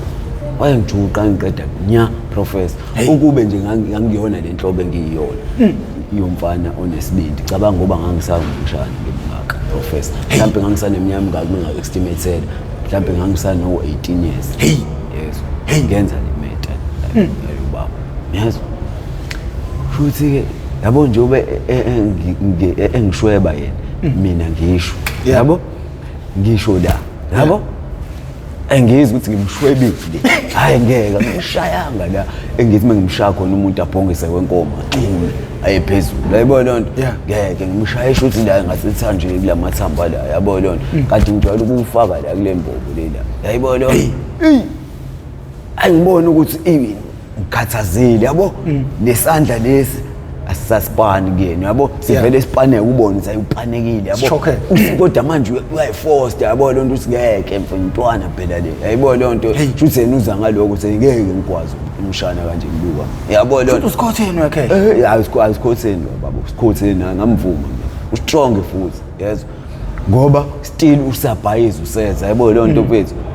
wayengijuqa ngiqeda nya professor ukube nje ngangiyona le nhlobo engiyiyona hmm. yomfana onesibindi cabanga ngoba ngangisakumshana ngimngaka professor mhlawumbe ngangisaneminyaka mingaki mina-estimate mhlawumbe ngangisano-18 years hey yes hey ngenza le meta hmm. ayubaba yes futhi ke yabo nje ube e, e, e, engishweba yena hmm. mina ngisho yabo ngisho la yabo engizwe ukuthi ngimshwebile hayi ngeke ngishayanga la engithi mengimshaya khona umuntu abhongise kwenkomo ayephezulu yayibona loo nto Yeah. ngeke ngimshaye shuthi la ngasethanjeni kula mathamba la yabona loo nto Mm. kanti ngijwayele ukuwufaka la kule mbobo lela yayibona loo nto Eyi. angiboni ukuthi iwini ngikhathazile yabo Mm. nesandla lesi asisasipani kuyena yabo sivele sipaneke ubone ukuthi ayupanekile yabo Sishoke. Uthi kodwa manje uya- uyayifosta yabo loo nto uthi ngeke mfo intwana phela le yayibona loo nto shuthi yena uza ngaloko ukuthi ngeke ngikwazi umshana kanje ngibuka yabo lona usikhotheni wakhe eh hayi usikhotheni baba usikhotheni ngamvuma mina ustrong futhi yezwa ngoba still usabhayiza useza yabo leyo nto kwethu mm.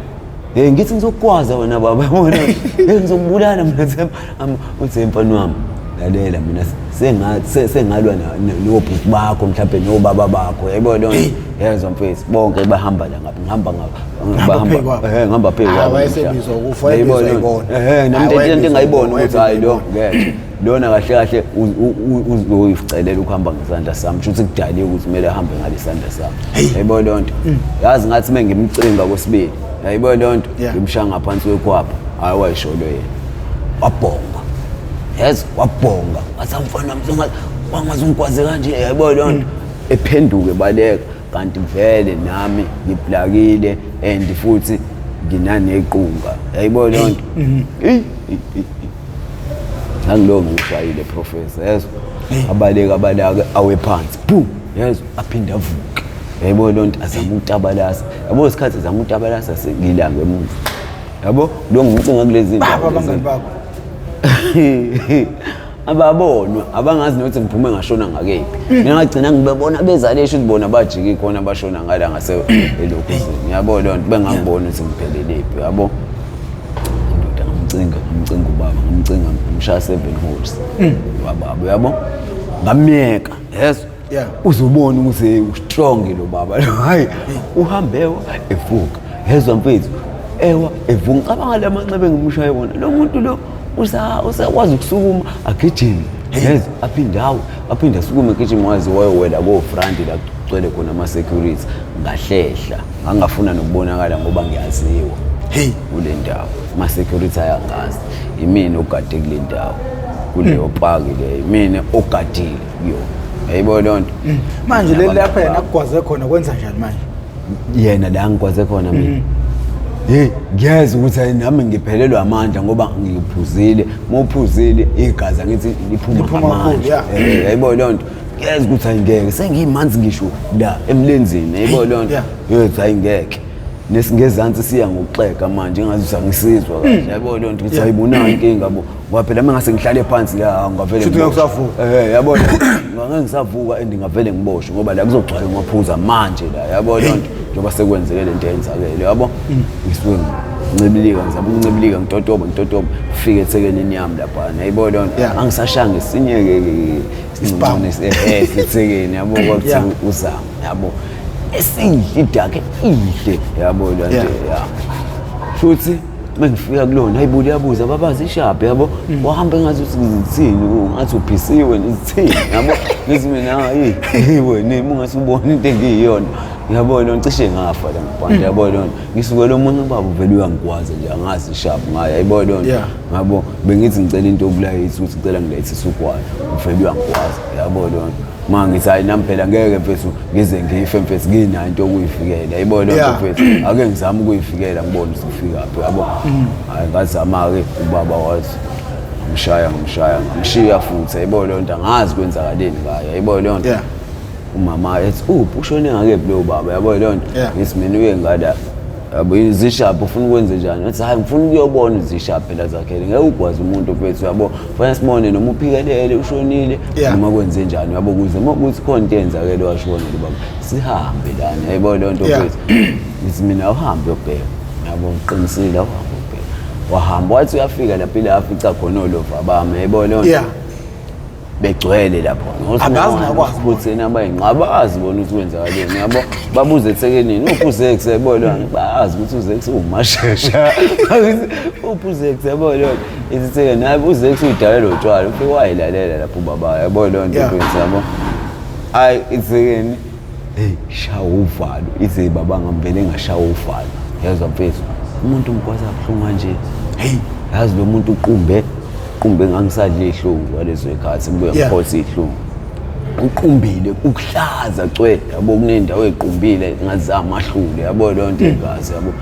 hey ngithi ngizokwaza wena baba yabona hey ngizokubulala mina Themba uthi mfana wami lalela mina sengathi sengalwa nobhuti bakho mhlawumbe nobaba bakho yayibona yezwa mfethu bonke bahamba la ngapha ngihamba ngapha bahamba eh ngihamba phezu kwabo wayesebizwa ukufa wayebizwa ibona eh nami into engayibona ukuthi hayi lo ngeke lona kahle kahle uzoyicelela ukuhamba ngesandla sami kusho ukuthi kudaliwe ukuthi kumele ahambe ngalesandla sami yayibo leyo nto mm. yazi ngathi uma ngimcinga kwesibili yayibo leyo nto ngimshaya ngaphansi kwekwapha hhayi wayisholo yena wabhonga yes wabhonga ngathi amfana mzonga wangaze ungikwaze kanje yayibo leyo nto mm. ephenduke baleka kanti vele nami ngiblakile and futhi nginanequnga yayibona leyo nto mhm. eyi nangilowo ngiwushayile professor yezwa abaleke abalake awe phansi boom yezwa aphinde avuke yayibona leyo nto azama ukutabalasa yabo isikhathi azama ukutabalasa sengilange emuva yabo lo ngiwucinga kulezi zinto abangani bakho ababonwa abangazi nokuthi ngiphume ngashona ngakephi mm. mina ngagcina ngibebona bezale esho ukuthi bona bajiki khona bashona ngala ngase elokhuzini ngiyabo loo nto bengangiboni ukuthi ngipheleliphi yabo indoda ngamcinga ngamcinga ubaba ngamcinga ngimshaya seven holes mm. wababa yabo ngamyeka yezwa yeah. uzobona ukuthi ustrong lo baba lo hayi uhambe evuka hezwa mfethu ewa evuka ngicabanga le manxeba engimushaye wona lo muntu lo usakwazi ukusukuma agijime yes aphinde awu aphinde asukume egijime waze wayowela kofrandi la kugcwele khona ama-security ngahlehla ngangafuna nokubonakala ngoba ngiyaziwa hey kule ndawo ama-security ayangazi imina ogade kule ndawo kuleyo mm. paki leyo imina ogadile yo yayibo loo nto mm. manje leli lapha yena akugwaze khona kwenza njani manje yena la ngigwaze khona mina mm. hey ngiyeza ukuthi nami ngiphelelwa amandla ngoba ngiphuzile mophuzile igazi ngithi liphuma amandla eh, yayibo loo nto ngiyeza ukuthi ayingeke sengiyimanzi ngisho la emlenzini yayibo loo nto yothi ayingeke nesingezansi siya ngokuxega manje ngazi ukuthi angisizwa kahle mm. yayibo loo nto ukuthi ayibonanga inkinga bo ngoba phela uma ngase ngihlale phansi la ngavele Shuthi ngeke usavuka. eh yabona ngeke ngisavuka and ngavele ngiboshwe ngoba la kuzogcwala ngaphuza manje la yabo le nto njengoba sekwenzeke le nto yenzakele yabo ngisuke ngincibilika ngizama ukuncibilika ngitotoba ngitotoba fike ethekenini yami lapha nayibo le nto Yeah. angisashanga esinye ke Isibhamu. eh sithekeni yabo kwakuthi Yeah. uzama yabo esinhle idakhe inhle yabo le nto Yeah. ya shuthi mengifika kulona hayi bo liyabuza babazi ishabhe yabo mm. wahamba engazi ukuthi ngizithini ngathi uphisiwe ngizithini yabo ngithi mina hayi yiwe nimi ungase ubone into engiyiyona yabo lona cishe ngafa la ngibhanda mm. yabo lona ngisuke lo muntu ubaba uvele uyangikwazi nje angazi ishabhe ngayo yabo lona ngabo bengithi ngicela into obulayithi ukuthi ngicela ngilayithise ugwayi uvele uyangikwazi yabo lona ma ngithi hayi nami phela ngeke mfethu ngize ngife mfethu nginayo into yokuyifikela yibona loo nto Yeah. mfethu ake ngizame ukuyifikela ngibone ukuthi ngifikaphi yabo hayi ngazama-ke ubaba wathi ngimshaya ngimshaya ngamshiya futhi yayibona leyo nto angazi kwenzakaleni ngayo yayibona leyo nto Yeah. umama ethi uphi ushone ngakephi lowo baba yabo leyo nto Yeah. ngithi mina uye ngada yabo izishaphi ufuna ukwenze njani athi hayi ngifuna ukuyobona izishaphi phela zakhele ngeke ugwaze umuntu mfethu yabo fanele sibone noma uphikelele ushonile Yeah. noma kwenze njani yabo kuze uma kuthi khona into eyenzakele washona nje baba sihambe lana yayibona leyo nto Yeah. mfethu ngithi mina uhambe uyobheka yabo ngiqinisile uhambe uyobheka wahamba wathi uyafika lapho ile afica khona olova bami yayibona leyo nto Yeah. begcwele lapho angazi nakwazi ukuthi yena bayinqa abazi bona ukuthi kwenzakaleni yabo babuze ethekenini uphi uzex yabo lona bazi ukuthi uzex uwumashesha uphi uzex yabo lona isithekeni hayi uzex uyidala lo tshwala ufike wayilalela lapho ubaba yabo lona into yabo hayi ithekeni Hey, shawa uvalo. Ize baba ngambele ngashawa uvalo. Yezwa mfethu. Umuntu ngikwazi abuhlungu kanje. Hey, yazi lo muntu uqumbe uqumbe ngangisadle ihlungu kwalezo ikhathi ngibuye Yeah. ngiphosa ihlungu. Uqumbile ukuhlaza cwe yabo kunendawo equmbile ngazama ahlule yabo leyo nto igazi yabo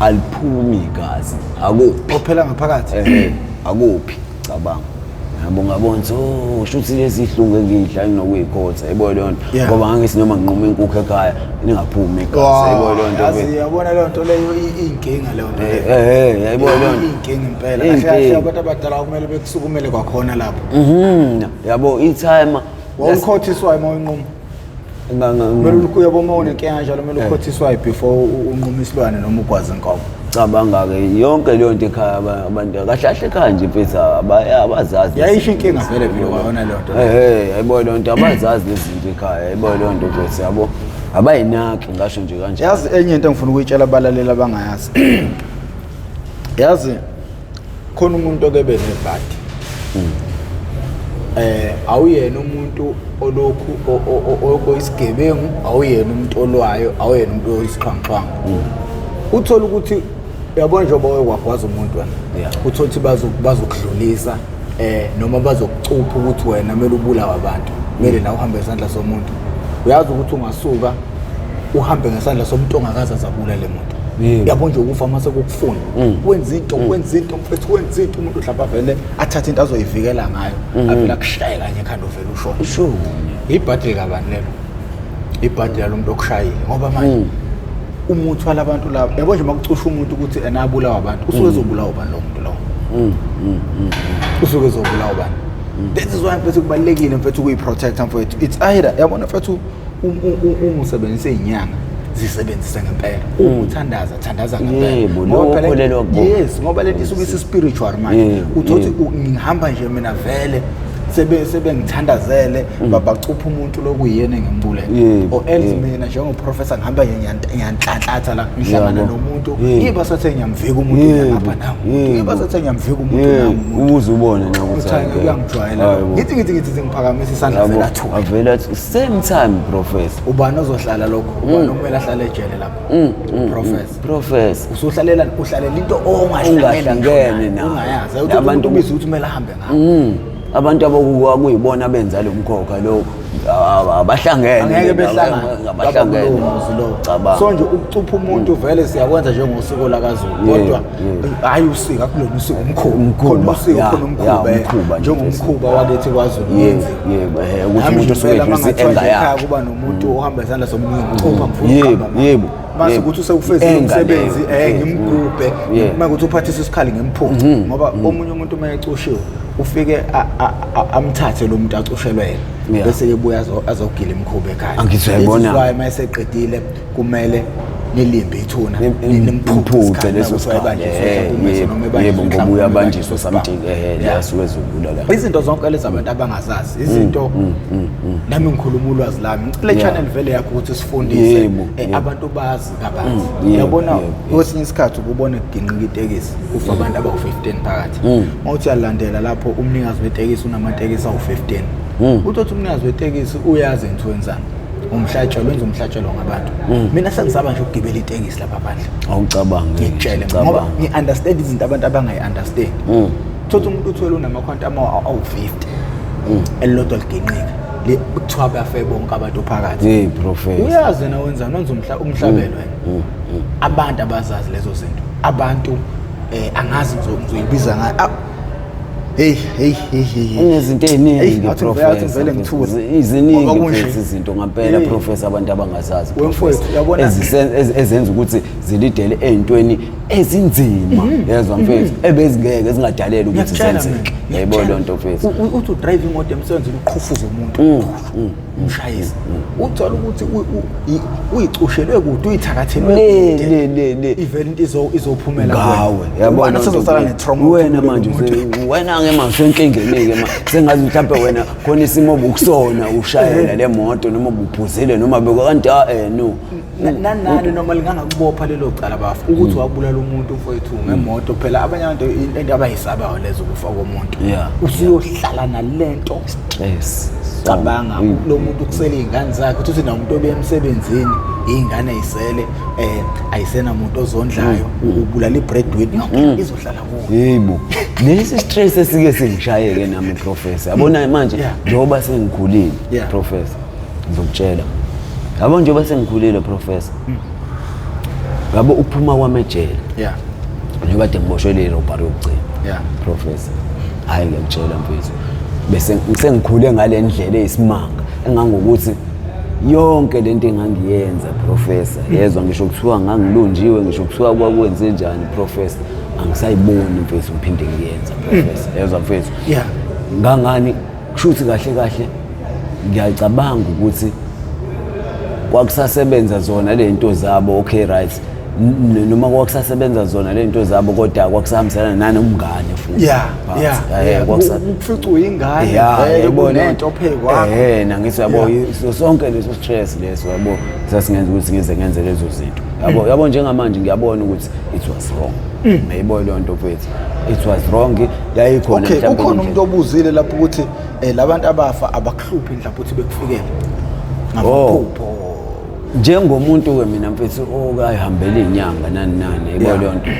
aliphumi igazi akuphi Ophela ngaphakathi. eh akuphi cabanga yabo ngabona ukuthi oh, usho ukuthi lezi ihlungu engiyidla nginokuyikhotha yebo leyo nto Yeah. ngoba ngangisi noma nginquma inkukhu ekhaya ningaphumi igazi yebo leyo nto yazi ke. yabona leyo nto leyo i- iyinkinga leyo nto Eh, leyo. eh, eh, yebo leyo nto iyinkinga impela kahle kahle Iyinkinga. abantu abadala kumele bekusukumele kwakhona lapho Mhm, yabo ithayima wawukhothiswayo uma uyinquma kumele uyabo uma unenkinga njalo kumele eh. ukhothiswayo before unquma isilwane noma ugwaze inkomo cabanga-ke yonke leyo nto ekhaya abantu kahle kahle ekhaya nje mfethu abazazi yayisho inkinga vele vile kwayona leyo nto ehe ayiboye leyo nto abazazi lezi zinto ekhaya ayiboye leyo nto mfethu yabo abayinaki ngasho nje kanje yazi enye into engifuna ukuyitshela abalaleli abangayazi yazi khona umuntu okebe nebhadi hmm. eh awuyena umuntu olokhu oyisigebengu awuyena umuntu olwayo awuyena umuntu oyisixhwanguxhwangu hmm. uthola ukuthi uyabona njengoba wewagwaza umuntu wena uthola ukuthi bazokudlulisa eh noma bazokucupha ukuthi wena kumele ubulawe abantu kumele nawe uhambe isandla somuntu uyazi ukuthi ungasuka uhambe ngesandla somuntu ongakaze azabulale muntu yabo nje ukufa mase kukufuna mm. wenza into mm. wenza into mfethu wenza into umuntu mhlawumbe avele athathe into azoyivikela ngayo mm. avele akushaye kanye ekhanda uvele ushona sure ibhadi likabani lelo ibhadi lalomuntu okushayile ngoba manje umuthi walabantu laba yabo nje makucusha umuntu ukuthi ena abulawa abantu usuke ezobulawa ubani lo muntu lowo usuke ezobulawa ubani this is why mfethu kubalulekile mfethu ukuyi-protecta mfethu it's either yabona mfethu umusebenzise inyanga zisebenzise ngempela mm. uthandaza thandaza ngempela yes ngoba lento isuke isispiritual manje uthothi ngihamba nje mina vele sebe sebengithandazele mm. babacupha umuntu lokuyena engimbule or else mina njengoprofessor ngihamba ngiyanhlanhlatha la ngihlangana nomuntu ngiba sathe ngiyamvika umuntu ngapha nawo ngiba sathe ngiyamvika umuntu nawo ubuze ubone nje ukuthi uyangijwayela ngithi ngithi ngithi ngiphakamisa isandla vela thu avela same time professor ubani ozohlala lokho mm. ubani okumele ahlale ejele lapho mm, mm, professor professor usuhlalela uhlalela into ongahlangene nayo abantu bizi ukuthi kumele ahambe ngayo abantu abakuwa kuyibona benza lo mkhokha lokho abahlangene ngeke behlangana abahlangene so nje ukucupha umuntu vele siyakwenza njengosuku lakaZulu kodwa hayi usika kulona usika umkhuba Umkhuba, khona usika ya, khona ya, umkhuba eh, umkhuba nje, njengomkhuba wakithi kwazulu Yebo, yenziwa. yebo, eh, ukuthi Nami umuntu ngempela osuke uma eduze ngathiwa nje enga ekhaya yakhe. kuba nomuntu ohamba isandla somunye ngicupha ngifuna Yebo, ukuhamba naye. yebo, mase yebo. ukuthi usewufezile Enga umsebenzi leyo, eh yebo, ngimgubhe yebo. Yebo. uma ukuthi uphathisa isikhala ngimphuce ngoba omunye umuntu uma ecushiwe ufike a- a- a- amthathe lo muntu acushelwe yena Yeah. bese ke buya azo- azogila imikhuba ekhaya Angithi uyayibona? Ezizwayo uma eseqedile kumele nilimbe ithuna nimphuce leso sikhathi yebo ngoba uyabanjiswa something ehele asuke ezodlula la izinto zonke lezi abantu abangazazi mm, izinto mm, mm, nami ngikhuluma ulwazi lami ngicela channel vele yakho ukuthi sifundise eh, abantu bazi kabanzi uyabona kwesinye isikhathi ukubona kuginqika itekisi kufa abantu abawu-15 phakathi mawuthi uyalandela lapho umnikazi wetekisi unamatekisi awu-15 uthi othi umnikazi wetekisi uyazi into wenzani umhlatshelo wenza umhlatshelo ngabantu mm. mina sengisaba nje ukugibela itekisi lapha phandle awucabangi ngitshele ngoba ngi-understand izinto abantu abangayi-understand mm. thothi umuntu uthwele unamakhwanti awu-50 mm. elilodwa liginqika kuthiwa bafe bonke abantu phakathi uyazi yena wenzani wenza umhlabelo wena abantu abazazi lezo zinto abantu um angazi ngizoyibiza ngayo Hey hey hey hey. Unezinto eziningi professor. Iziningi futhi izinto ngampela professor abantu abangazazi. Wemfowethu yabona ezenza ukuthi zilidele ezintweni ezinzima. Mhm. Yezwa mhm. mfethu ebezingeke zingadaleli ukuthi zenzeke. Yayibona lento mfethu. Uthi u drive imoto emsebenzini uqhufuza umuntu. Mm, mm. umshayisi uthola ukuthi uyicushelwe kude uyithakathelwe le le le ivele into izo izophumela ngawe yabona sezosala ne trauma wena manje wena ke manje enkingeni ke manje sengazi mhlawumbe wena khona isimo obukusona ushayela le moto noma ubuphuzile noma bekwa kanti a eh no nanani noma lingangakubopha lelo cala bafu ukuthi mm. wabulala umuntu mfowethu ngemoto phela abanye abantu into abayisabayo lezo kufa komuntu usuyohlala nalento stress cabanga mm. lo muntu kusele iy'ngane zakhe ukuthi uthi namuntu obuya emsebenzini iy'ngane ayisele um eh, ayisena muntu ozondlayo mm. ubulala i-breadwin yonke izohlala kuwo yebo lesi stress esike singishayeke nami professor yabona manje njengoba sengikhulile professor ngizokutshela yabo njengoba sengikhulile professor hmm. yabo ukuphuma kwami ejele yeah njengoba de ngiboshwe leli robbery yokugcina yeah professor hayi ngiyakutshela mfethu bese sengikhule ngale ndlela eyisimanga engangokuthi yonke lento engangiyenza professor hmm. yezwa ngisho kuthiwa ngangilunjiwe ngisho kuthiwa kwakwenze njani professor angisayiboni mfethu ngiphinde ngiyenza professor hmm. yezwa mfethu yeah ngangani kusho ukuthi kahle kahle ngiyacabanga ukuthi kwakusasebenza zona le nto zabo okay right noma kwakusasebenza zona le nto zabo kodwa kwakusahambisana nani umngane futhi yeah yeah eh, ukufica uyingane vele kunento phekwakho eh nangithi yabo sonke leso stress leso yabo sasingenza ukuthi ngize ngenze lezo zinto yabo yabo njengamanje ngiyabona ukuthi it was wrong ngiyibona leyo nto mfethu it was wrong yayikhona okay mhlawumbe ukhona indlela. umuntu obuzile lapho ukuthi eh, labantu abafa abakuhluphi indlela ukuthi bekufikele Oh. ngamaphupho njengomuntu-ke mina mfethu okayihambela iy'nyanga nani nani yabo Yeah. leyo nto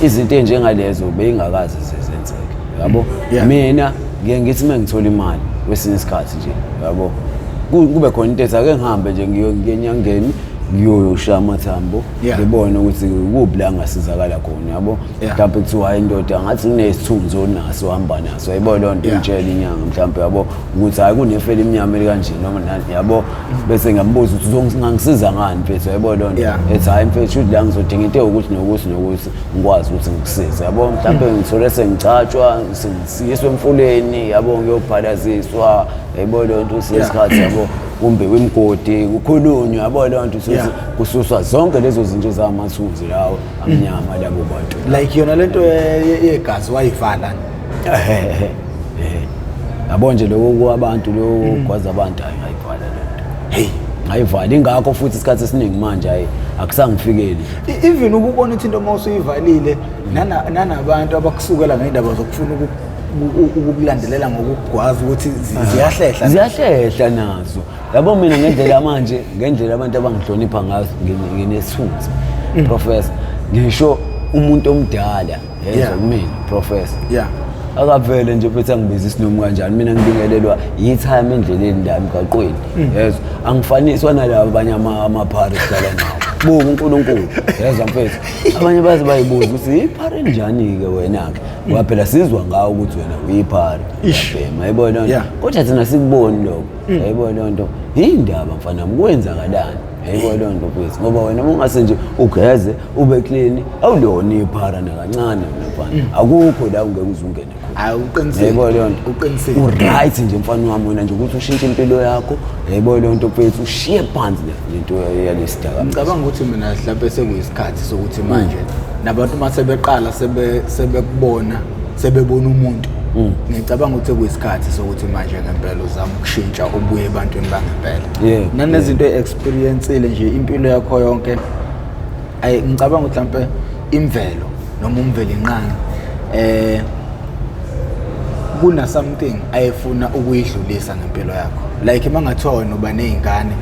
izinto ey'njengalezo beyingakazi zezenzeke yabo Yeah. mina ngiye ngithi uma ngithola imali kwesinye isikhathi nje yabo Ku- kube khona into ethi ake ngihambe nje ngiyo- ngiye enyangeni ngiyoyoshaya amathambo Yeah. ngibone ukuthi kuphi la ngasizakala khona yabo Yeah. mhlawumbe kuthiwa hayi indoda ngathi nginesithunzi onaso ohamba naso yayibona leyo nto Yeah. ingitshela inyanga mhlawumbe yabo ukuthi hayi kunefela imnyama elikanje noma nani yabo bese ngambuza ukuthi uzongangisiza ngani mfethu yayibona leyo nto Yeah. ethi hayi mfethu shuthi la ngizodinga into ewukuthi nokuthi nokuthi ngikwazi ukuthi ngikusize yabo mhlawumbe Mm. ngithole sengicatshwa sengisiyiswa emfuleni yabo ngiyobhalaziswa yayibona leyo nto siye Yeah. isikhathi yabo kumbe kwimgodi kukhulunywe yabo leyo nto Yeah. kususwa zonke lezo zinto ezamathunzi lawo amnyama labo bantu like yona lento ye- ye- yegazi wayivala Ehehe. Eh. yabo nje lokho kwabantu lokho kwazi abantu hayi ngayivala lento hey ngayivala ingakho futhi isikhathi esiningi manje hayi akusangifikeli E- even ukubona ukuthi into uma usuyivalile nana- nanabantu abakusukela ngendaba zokufuna uku- ukukulandelela ngokugwaza ukuthi ah. ziyahlehla ziyahlehla nazo yabo mina ngendlela manje ngendlela abantu abangihlonipha ngazo nginesithunzi mm. professor ngisho umuntu omdala yezwa kumina professor yeah akavele nje phethe angibiza isinomu kanjani mina ngibingelelwa yithime endleleni la emgaqweni mm. yezwa angifaniswa nalabo abanye amaphari sidlala nawo buka unkulunkulu yezwa mfethu abanye baze bayibuza ukuthi yiphari enjani-ke wena-ke ngoba phela sizwa ngawo ukuthi wena uyiphara uyabhema yayibona loo nto Yeah. kodwa thina sikuboni lokho yayibona loo nto yindaba mfana wami kwenzakalani yayibona loo nto kwethu ngoba wena uma ungase nje ugeze ube clean awulona iphara nakancane wena mfana akukho la ungeke uze ungene khona Hayi uqinisile. yayibona loo nto Uqinisile. uright nje mfana wami wena nje ukuthi ushintshe impilo yakho yayibona loo nto kwethu ushiye phansi le into yalesidaka ngicabanga ukuthi mina mhlawumbe sekuyisikhathi sokuthi mm. manje nabantu uma sebeqala sebekubona sebebona umuntu mm. ngicabanga ukuthi kuyisikhathi sokuthi manje ngempela uzama ukushintsha ubuye ebantwini bangempela nanezinto e-experiencile nje impilo yakho yonke ayi ngicabanga ukuthi mhlawumbe imvelo noma umvelinqangi um kuna something ayefuna ukuyidlulisa ngempilo yakho like uma ngathiwa wena uba ney'ngane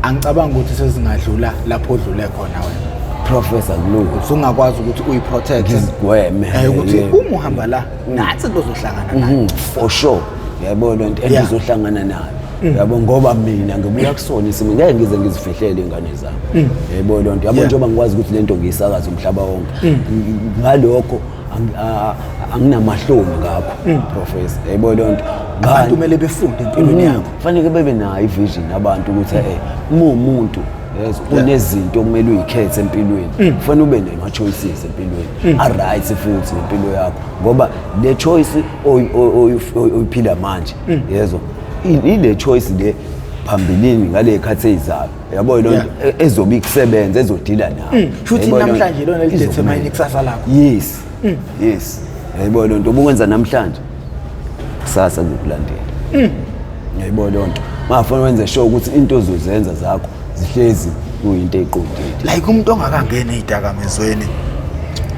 angicabangi ukuthi sezingadlula lapho odlule khona wena professor kulungu usungakwazi ukuthi uyiprotect ngizigweme eh ukuthi uma uhamba la mm. nathi kuzohlangana nayo mm-hmm. for sure yabo lento engizohlangana nayo mm. yabo ngoba mina ngibuya kusona isimo ngeke ngize ngizifihlele ingane zami mm. yabo lento yabo njengoba ngikwazi ukuthi lento ngiyisakaza umhlaba wonke ngalokho anginamahloni ngakho mm. professor yebo leyo nto abantu kumele befunde empilweni mm-hmm. yakho kufanele bebe nayo ivision abantu ukuthi mm. eh uma umuntu yes unezinto okumele uyikhethe empilweni mm. kufanele ube nema choices empilweni a right futhi impilo yakho ngoba le choice oyiphila manje yezwa ile choice le phambilini ngale khathi eyizayo yabo yilo yeah. E-, ezobe ikusebenza ezodila nawo mm. futhi namhlanje lona lidetermine ikusasa lakho yes mm. yes yabo lonto ubukwenza namhlanje kusasa ngikulandela mm. yabo lonto mafuna wenze sure ukuthi into ozozenza zakho zihlezi kuyinto eqondile like umuntu ongakangena idakamezweni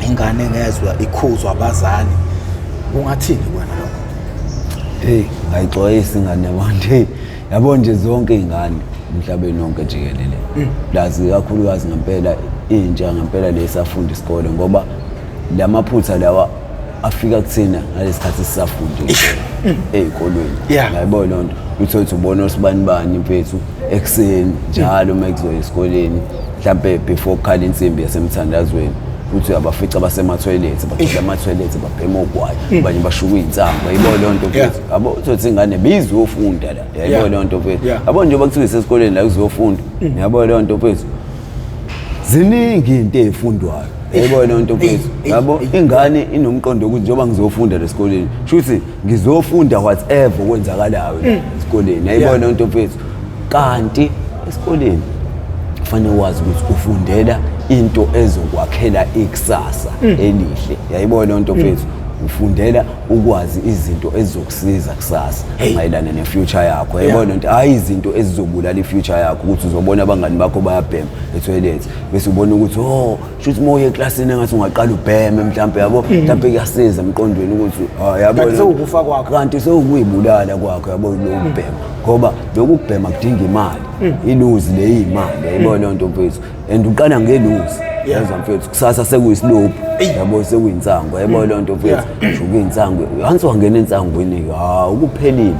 ingane ngezwe ikhuzwa abazali ungathini wena lokho hey ngayixwayisa ingane yabantu hey yabo nje zonke iy'ngane emhlabeni wonke jikelele mm. plus kakhulukazi ngempela intsha ngempela le safunda isikole ngoba la maphutha lawa afika kuthina ngalesi khathi sisafundile mm. ey'kolweni ngayibona loo nto uthole ukuthi ubona osibani bani mfethu ekuseni njalo uma kuzoya esikoleni mhlampe before kukhala insimbi yasemthandazweni uthi uyabafica basemathoyilethi bagcwele amathoyilethi babhema ogwayi abanye bashuka iy'nsango yibona loo nto yabo uzothi ingane bizofunda la yabo Yeah. leyo nto mfethu Yeah. yabo njengoba kuthiwa isesikoleni la kuzofunda yabo leyo nto mfethu ziningi into eyifundwayo yabo leyo nto mfethu Eish, yabo eish, eish. ingane inomqondo wokuthi njengoba ngizofunda la esikoleni shuthi ngizofunda whatever okwenzakalayo la esikoleni yabo Yeah. leyo nto mfethu kanti esikoleni kufanele wazi ukuthi ufundela into ezokwakhela ikusasa elihle yayibona lento mfethu ufundela ukwazi izinto ezizokusiza kusasa mayelana ne-future yakho yabona nto hhayi izinto ezizobulala i-future yakho ukuthi uzobona abangani bakho bayabhema ethoyilethi bese ubona ukuthi o oh, shuthi uma uye eklasini engathi ungaqala ubheme mhlawumpe yabo mm. mhlawumpe kuyasiza emqondweni ukuthi ah, yabosewukufa kwakho kanti sewukuyibulala kwakho yabo lokubhema ngoba lokubhema kudinga imali mm. iluzi leyimali yayibona nto mfethu and uqala ngeluzi yazi mfethu kusasa sekuyisilobhu yabo sekuyinsango yabo loo nto mfethu sho kuyinsango hansi wangena entsangweni ha ukuphelile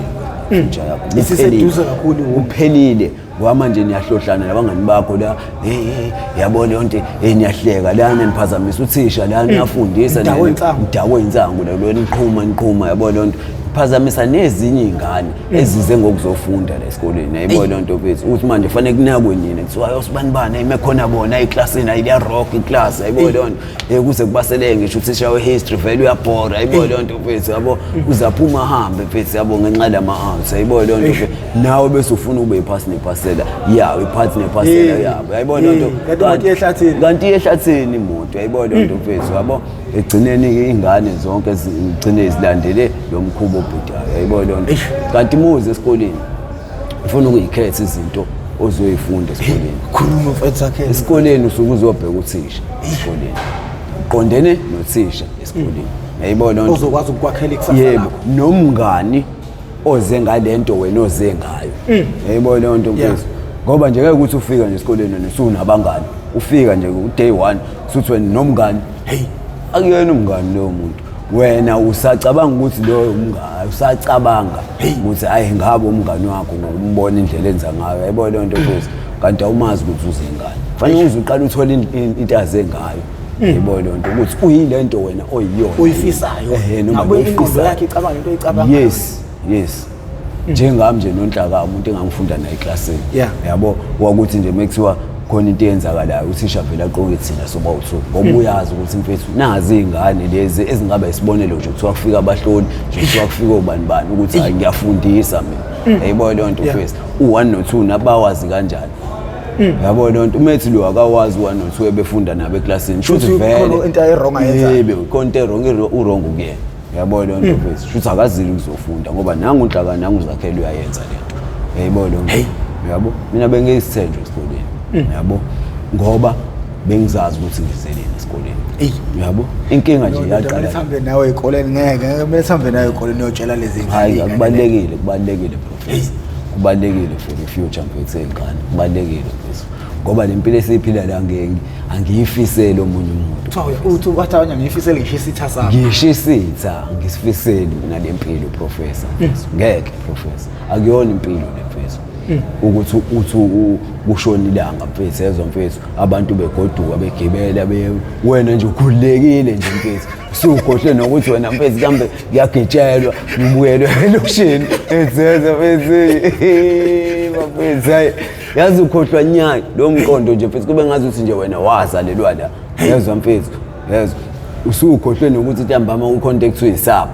inja yakho Uphelile. Isiseduze kakhulu ngoku. uphelile ngoba manje niyahlohlana labangani bakho la hey, hey, yabo leyo nto hey, niyahleka lana niphazamisa uthisha la niyafundisa Udakwe nani- insangu. udakwe insangu la lona niqhuma niqhuma yabo leyo nto phazamisa nezinye iy'ngane ezize ngokuzofunda la esikoleni ayibo loo nto kwethu ukuthi manje fanele kunakwe nina kuthiwa yosibani bani ayime khona bona eklasini ayiya rock iklasi ayibo loo nto um kuze kubaseleke ngisho uthisha we-history vele uyabhora ayibo loo nto kwethu yabo uzaphuma ahambe kwethu yabo ngenxa lama-arts ayibo loo nto nawe bese ufuna ube iphasi nephasela yawo iphathi nephasela yabo ayibo loo nto kanti iyehlathini imoto ayibo loo nto kwethu yabo ekugcineni-ke iy'ngane zonke zigcine zilandele lo mkhuba obhudayo yayibo leyo nto kanti muze esikoleni ufuna ukuyikhetha izinto ozoyifunda esikoleni khuluma mfethu akhe esikoleni usuke uzobheka uthisha esikoleni uqondene nothisha esikoleni mm. yayibo leyo nto ozokwazi ukukwakhela ikusasa lakho yebo nomngani oze ngalento wena oze ngayo mm. yayibo leyo nto mfethu ngoba nje ngeke ukuthi ufika nje esikoleni nje usunabangani ufika nje ku day 1 suthi wena nomngani heyi akuyena umngani loyo muntu wena usacabanga ukuthi loyo umngani usacabanga ukuthi ayi ngabe umngani wakho ngokumbona indlela enza ngayo yayibona leyo nto futhi kanti awumazi ukuthi uzengani fanele uze uqale uthole into azengayo yebo leyo nto ukuthi uyile nto wena oyiyona oyifisayo noma oyifisayo yes yes njengami nje nonhlaka umuntu engangifunda naye eklasini Yeah. yabo wakuthi nje mekuthiwa khona into eyenzakalayo uthisha vele aqoke thina soba uthu ngoba uyazi ukuthi mfethu nazi iy'ngane lezi ezingaba isibonelo nje kuthiwa kufika abahloli nje kuthiwa kufika obani bani ukuthi hayi ngiyafundisa mina yayiboyo leyo nto Yeah. mfethu u-one no-two nabawazi kanjani yabo leyo nto umethi lo akawazi u-one no-two ebefunda nabo eklasini Shuthi Shuthi khona into ayi-wrong ayenzayo. Yebo, khona into erong urong kuyena yabo leyo nto mfethu shuthi akazile ukuzofunda ngoba nangu unhlaka nangu uzakhele uyayenza le nto yayibona leyo nto yabo mina bengiyisithenjwa esikoleni yabo ngoba bengizazi ukuthi ngizeleni esikoleni Eyi. yabo inkinga nje Ndoda, kumele yaqala sihambe nawe ekoleni ngeke ngeke kumele sihambe nawe ekoleni uyotshela lezi hayi ngane. akubalulekile kubalulekile professor kubalulekile for the future mfethu seyingane kubalulekile mfethu ngoba le mpilo esiyiphila la angiyifiseli omunye umuntu wathaanya ngiyifisele ngisho isitha sami ngisho isitha ngisifiseli mina le mpilo professor hmm. ngeke professor akuyona impilo le mfethu hmm. ukuthi uthi kushona ilanga mfethu ezwa mfethu abantu begoduka begibela wena nje ukhululekile nje mfethu siwugohle nokuthi wena mfethu kambe kuyagitshelwa ngibuyelwe elokishini ezeza mfethu bafethu hayi yazi ukhohlwa nyanya lo mqondo nje mfethu kube ngazi ukuthi nje wena wazalelwa la yezwa mfethu yezwa usukhohlwe nokuthi ntambama ucontact uyisapho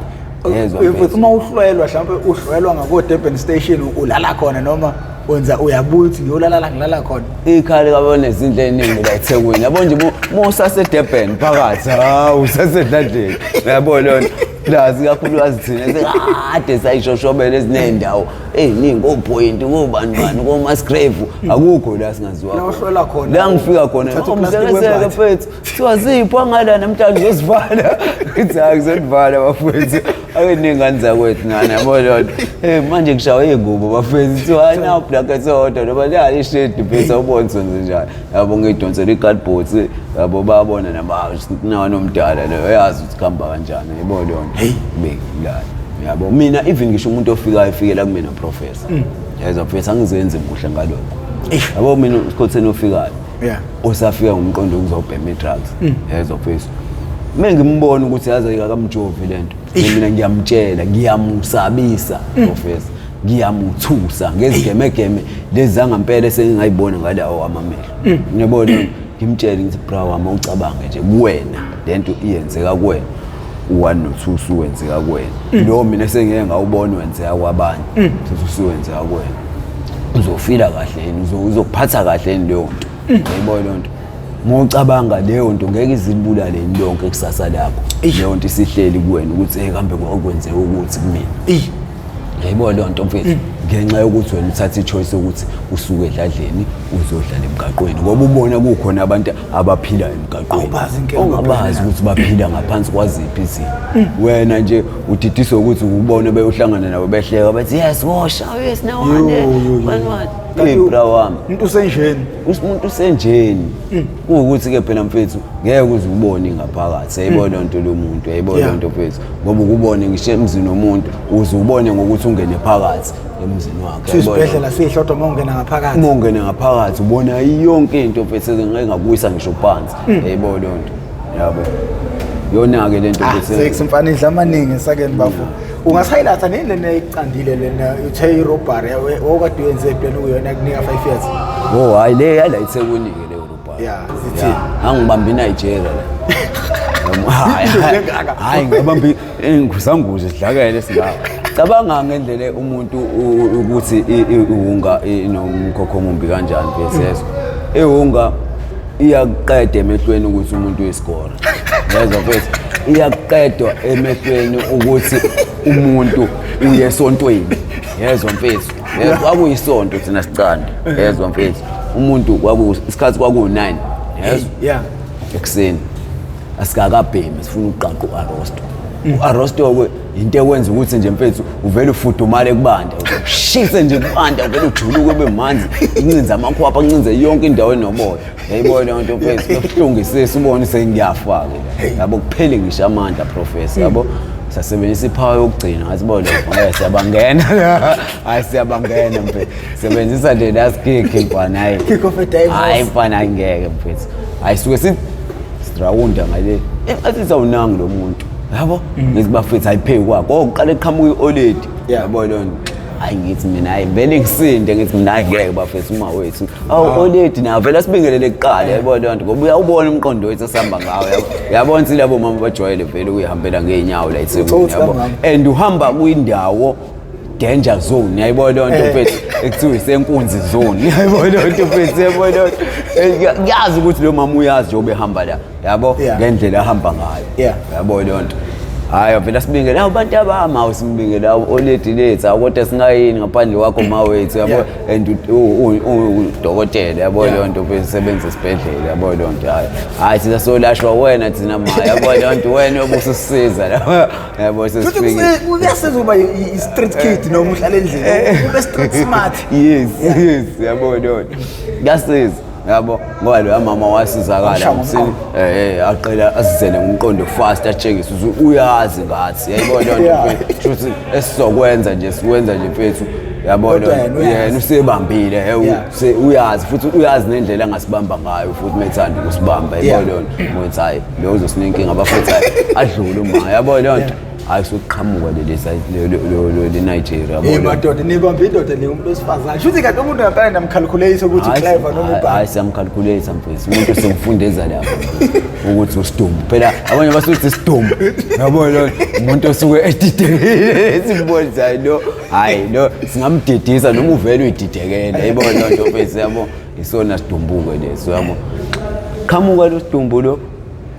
yezwa If- mfethu uma uhlwelwa mhlawumbe uhlwelwa ngako-durban station ulala khona noma wenza uyabuya ukuthi ngiyolala la ngilala khona ikhali kabone izinto eziningi la ethekwini yabo nje mu- musasedurban phakathi hawu usasedladleni yabo lona Plus ikakhulukazi thina sekade sayishoshobela ezinendawo eziningi kopoint kobani bani komasgrave akukho la singaziwa La uhlola khona. la ngifika khona Uthatha uplastic umzekeseke webhathi. mfethu kuthiwa zipho angala namhlanje uzosivala ithi hayi ngizonivala bafethu ake ningane zakwethu ngane yabo lodwa Eh, manje kushawa iy'ngubo bafethu kuthiwa hayi nawu black esodwa noma liyali ishedi mfethu awubonso nje njalo yabo ngidonsela i-cardboard yabo babona nabanomdala leyo yazi ukuthi kuhamba kanjani yabo leyo nto heyi bengilala yabo mina even ngisho umuntu ofikayo efikela kumina professor mm. yeza professor angizenzi kuhle ngalokho yabo mina usikhotheni ofikayo usafika ngomqondo ukuzobhema i-drugs mm. yeza professor uma ngimbona ukuthi yaze akakamjovi le nto mina ngiyamtshela ngiyamusabisa mm. professor ngiyamuthusa ngezigemegeme lezi zangampela esengingayibona ngale awo amamehlo mm. ngiyabona ngimtshele ngithi bra wami ucabange nje kuwena le nto iyenzeka kuwena u-one nothusi wenzeka kuwena mm. lo mina sengike ngawubona wenzeka kwabanye mm. thusi wenzeka kuwena uzofila kahle yini uzophatha kahle yini leyo nto yayibona leyo nto mocabanga leyo nto ngeke izilibulale yini lonke kusasa lakho leyo nto isihleli kuwena ukuthi kambe kwakwenzeka ukuthi kumina yayibo leyo nto mfethu mm. ngenxa yokuthi wena uthatha ichoice yokuthi usuke edladleni uzodlala emgaqweni ngoba ubona kukhona abantu abaphila emgaqweniungabazi ukuthi baphila ngaphansi kwaziphi izinto mm. wena nje udidiswe ukuthi ubone beyohlangana nabo behleka bathi yes wosha oh, yes nawanebra wami umuntu usenjeni umuntu usenjeni mm. kuwukuthi-ke phela mfethu ngeke uze ubone ingaphakathi yayibona nto lomuntu yayibona nto mfethu ngoba ukubone ngisho emzini womuntu uze ubone ngokuthi ungene phakathi emzini wakhe sisibhedlela sihle kodwa uma ungena ngaphakathi uma ungene ngaphakathi ubona yonke into mfethu engakuyisa ngisho phansi hmm. yebo leyo nto yabo yona-ke le nto ah, sex mfana idla amaningi esakeni bafo ungasayilatha nini lena ekucandile lena uthe irobhari okade uyenze epeni kuyona kunika five years o oh, hhayi le yala ithekunike leyo Yeah, it's it. angibambi Nigeria la Noma- hayi, Into hayi, engaka. hayi ngibambi inguzanguze sidlakele singawo cabanga ngendlela umuntu u- ukuthi i- i- iwunga inomkhokho omumbi kanjani besezwe iwunga iyakuqeda emehlweni ukuthi umuntu uyisigora yezwa mfethu iyakuqedwa emehlweni ukuthi umuntu uye esontweni yezwa mfethu Yezwa, kwakuyisonto thina sicanda yezwa mfethu umuntu kwaku isikhathi kwakuwu-9 yezwa yeah ekuseni asikakabhemi sifuna ukuqaqa u-arosto u-arosto-ke yinto ekwenza ukuthi nje mfethu uvele ufudumale kubanda ushise nje kubanda uvele ujuluke ube manzi incinza amakhwapha ancinze yonke indawo enomoya Yebo lonto mfethu yokuhlungisisa ubone sengiyafa ke. Yabo kuphele ngisho amandla professor yabo. Sasebenzisa iphawa yokugcina ngathi bo lokho ngeke siyabangena. Hayi siyabangena mfethu. Sebenzisa le last kick mfana hayi. Kick off a dive. Hayi mfana ngeke mfethu. Hayi suke si strawunda ngale. Engathi sawunangi lo muntu. Yabo? Ngizibafethu ayiphe kwakho. Oqale qhamuka ioledi. Yabo lonto. hayi ngithi mina hayi vele ngisinde ngithi mina hayi ngeke bafethu uma wethu awu ah. oledi nawo vele sibingelele kuqala eh. yabo lento ngoba uyawubona umqondo wethu esihamba ngawo yabona ukuthi labo mama bajwayele vele ukuyihambela ngeenyawo la ethebeni yabo and uhamba kwindawo danger zone yayibona leyo nto eh. mfethu ekuthiwa isenkunzi zone yayibona leyo nto mfethu yayibona leyo nto eh, kuyazi ukuthi lo mama uyazi njengoba ehamba la yabo Yeah. ngendlela ahamba ngayo Yeah. yabo leyo nto hhayi vele asibingele awu bantu abami awu simbingele awu oledi lethu awu kodwa singayini ngaphandle kwakho ma wethu yabo Yeah. and u- u- u- u- udokotela yabo Yeah. leyo nto usebenza esibhedlela yabo leyo nto hhayi hhayi thina solashwa wena thina ma yabo leyo nto wena obususiza la yabo Futhi sesifike kuse- kuyasiza ukuba i- i- i-street kid noma uhlala endlini ube street smart yes yes yabo leyo nto kuyasiza yabo ngoba loya mama wasizakala msini eh, eh aqele asizele ngomqondo fast atshengise ukuthi uyazi ngathi yayibona lento Yeah. mfethu ukuthi esizokwenza nje sikwenza nje mfethu yabona Kodwa yena uyazi. yena usebambile he, u- Yeah. se- uyazi futhi uyazi nendlela angasibamba ngayo futhi methanda ukusibamba Yeah. yayibona lento mfethu hayi lo uzosinika inkinga abafethu hayi adlule uma yabona lento hayi sokuqhamuka lenigeria eh, madoda nibambe indoda le umuntu wesifazane shuthi kanti umuntu ngapane namkhalkhuleyise ukuthi clever noma hayi siyamkhalkhuleyisa mfethu umuntu semfundeza lapho ukuthi usidumbu phela abanye basuthi isidumbu yabo lo umuntu osuke edidekile simbonisayo lo hayi lo singamdidisa noma uvele uyididekela yabo lo nto mfethu yabo isona sidumbuke leso yabo qhamuka lo sidumbu lo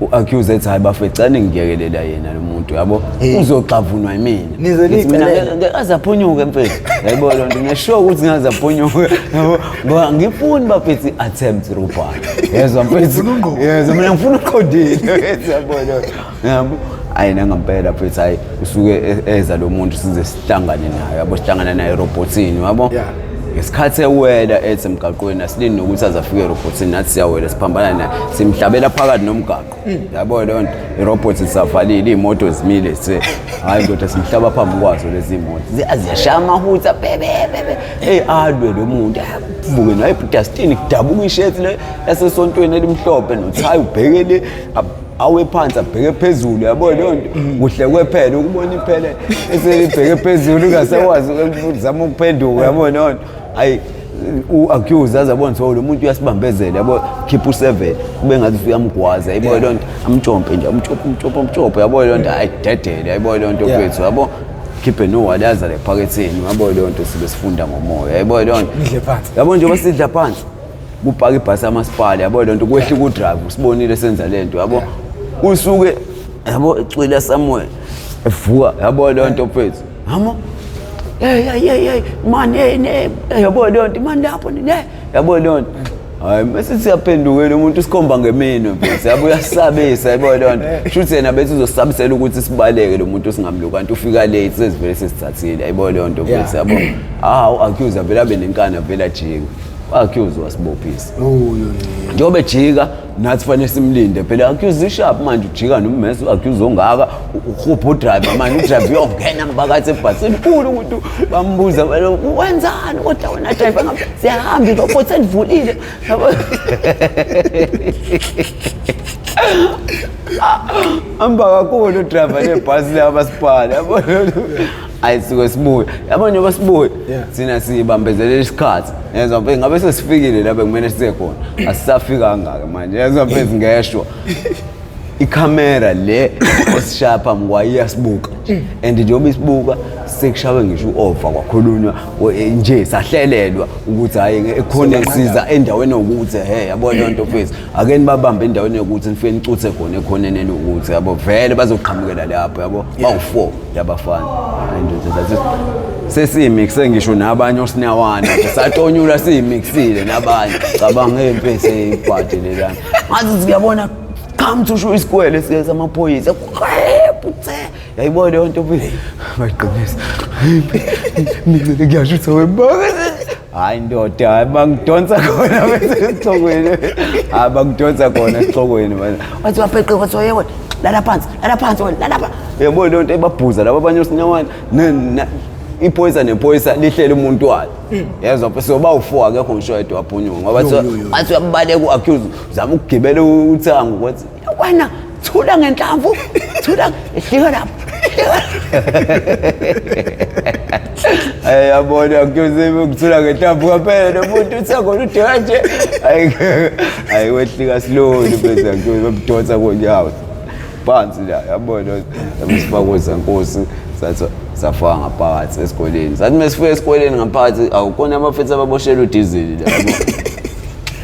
u-accuse ethi hayi bafethu cela ningiyekelela yena lo muntu yabo uzoxavunwa yimina Nize Ngithi mina nicelele. ngeke aze aphunyuke mfethu yayibona loo nto ngesure ukuthi ngaze aphunyuke yabo ngoba ngifuni bafethi attempt robot yezwa mfethu yezwa mina ngifuna uqondile yabona yabo hayi nangampela mfethu hayi usuke e- eza lo muntu size sihlangane naye yabo sihlangana naye erobhothini yabo Yeah. ngesikhathi ewela ethi emgaqweni asilindi nokuthi aze afike erobhothini nathi siyawela siphambana naye simhlabela phakathi nomgaqo yabo leyo nto irobhothi zisavalile iy'moto zimile se hhayi ndoda simhlaba phambi kwazo lezi moto ziyashaya amahutha bebebebe eyi alwe lo muntu avuke naye ebhudastini kudabuka isheti le yasesontweni elimhlophe nothayi ubhekele awe phansi abheke phezulu yabo leyo nto kuhle kwephela ukubona iphele eselibheke phezulu ungasakwazi zama ukuphenduka yabo leyo nto ayi u-accuse aze abone ukuthi oh, lo muntu uyasibambezela yabo khipha useven kube ngathi usuyamgwaza yabo leyo nto amtshompe nje amtshompe amtshompe amtshompe yabo leyo nto ayidedele yabo leyo nto kwethu yabo khiphe nowali azale ephaketheni yabo leyo nto sibe sifunda ngomoya yabo leyo nto yabo njengoba sidla phansi kupaka ibhasi amasipala yabo lento kwehla ku drive usibonile senza lento yabo usuke yabo ecwila somewhere evuka yabo lento mfethu hamo hey hey hey hey man hey ne yabo lento man lapho ne yabo lento hayi mase siyaphendukela umuntu sikhomba ngemino mfethu yabo uyasabisa yabo lento shuthi yena bethi uzosabisela ukuthi sibaleke lo muntu singamluka kanti ufika late sezivele sesithathile yabo lento mfethu yabo ah u accuse avela benenkani avela jinga accuse wasibophisa njengoba ejika nathi fanele simlinde phela accuse ishap manje ujika nommese u-accuse ongaka uhupha udriver manje udriver uyongena ngibakathi ebhasini kulu ukuthi bambuza wenzani kodwa wena driver ngam siyahamba irobot selivulile hamba kakhulu udriver lebhasi laba sibhale ayi suke sibuye yabo njengoba sibuye Yeah. thina sibambezelele isikhathi yezwa mfethu ngabe sesifikile la bekumele size khona asisafiki kangaka manje yezwa mfethu ngeshwa ikhamera le osishaya phambi kwayo iyasibuka and njengoba isibuka sekushawe ngisho u-ova kwakhulunywa o- eh, nje sahlelelwa ukuthi hhayi nge- ekhona kusiza endaweni yokuthi he yabo leyo nto fethu ake nibabambe endaweni yokuthi nifike nicuthe khona ekhoneni elukuthi yabo vele bazoqhamukela lapho yabo bawu-four yabafana sesiyimix sengisho nabanye osinawana satonyula siyimixile nabanye cabanga impi eseyibhadi lelana ngathi siyabona come to show isikwele siyeza amaphoyisa putse yayibona leyo nto bayiqinisa mina ngiyasho ukuthi awebanga hayi ndoda hayi bangidonsa khona esixokweni hayi bangidonsa khona esixokweni manje wathi wapheqe wathi waye wena lala phansi lala phansi wena lala phansi yabo le nto ebabhuza laba abanye osinyawana ne- na- iphoyisa nephoyisa lihlele umuntu walo yezwa phe soba u-four akekho ngisho yedwa waphunyuka ngoba Yo, yo, yo. wathi uyabaleka u-accuse zama ukugibela uthango kwathi wena thula ngenhlamvu thula ehlika lapho Ay yabona kuyozima ukuthula ngenhlamvu kwaphela nomuntu uthangona ude kanje ayi ayi wehlika slowly bese ngiyozima kudonsa konyawo phansi la yabona umsifakoza nkosi sathi safaka ngaphakathi esikoleni sathi mesifika esikoleni ngaphakathi awukona abafethu ababoshela udizili la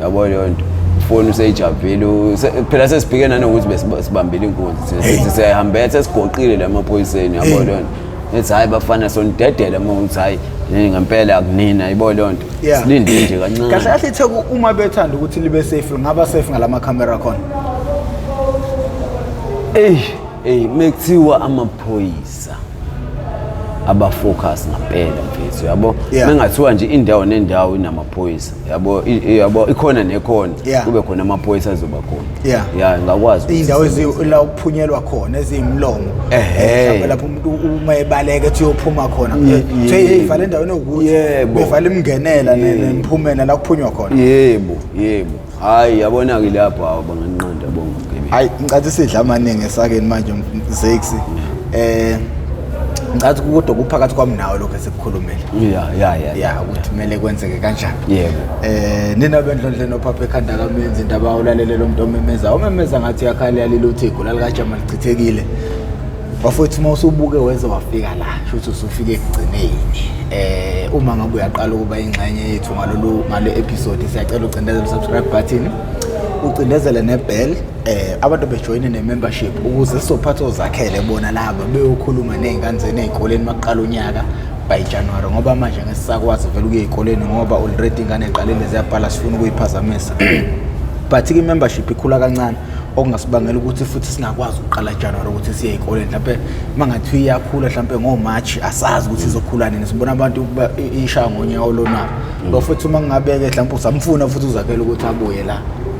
yabo leyo nto foni useyijabhile phela sesibhike nanokuthi besibambile inkunzi sithi siyayihambela sesigoqile la maphoyiseni yabo leyo nto ethi hhayi bafana sonidedele uma ukuthi hhayi ngempela akunina yibo leyo nto silinde nje kancane kahle kahle itheku uma bethanda ukuthi libe safe ngaba safe ngala makhamera khona eyi eyi mekuthiwa amaphoyisa abafocus ngampela mfethu yabo mengathiwa nje indawo nendawo inamaphoyisa yabo yabo ikhona nekhona kube khona amaphoyisa azoba khona yeah yeah ngakwazi indawo ezila ukuphunyelwa khona ezimlomo eh lapho umuntu uma ebaleka ethi uyophuma khona hey vala endaweni okuthi yebo vala imngenela nemphumela la kuphunywa khona yebo yebo hayi yabona ke lapho abanganqanda bonke hayi ngicathi sidla amaningi esakeni manje mzexi eh ngathi kodwa kuphakathi kwami nawe lokho esikukhulumile ya ya ya ya ukuthi kumele kwenzeke kanjani yebo eh nina bendlondle nophaphe ekhanda kamenzi indaba ulalele lo muntu omemeza umemeza ngathi yakhala yalile uthi igula likajama lichithekile bafowethu uma usubuke weze wafika la shuthi usufike ekugcineni eh uma ngabe uyaqala ukuba ingxenye yethu ngalolu ngale episode siyacela ucindezele subscribe button ucindezele nebell eh abantu bejoyine nemembership ukuze sophatha ozakhele bona laba beyokhuluma nezinkanzeni ezikoleni maqala unyaka by January ngoba manje ngesisakwazi vele ukuye ezikoleni ngoba already ingane eqalile ziyabhala sifuna ukuyiphazamisa but i membership ikhula kancane okungasibangela ukuthi futhi singakwazi ukuqala January ukuthi siye ezikoleni mhlawumbe mangathi iyakhula mhlawumbe ngo March asazi ukuthi izokhula nini sibona abantu ishaya ngonyaka olona mm. lo futhi uma ngingabeke mhlawumbe usamfuna futhi uzakhela ukuthi abuye la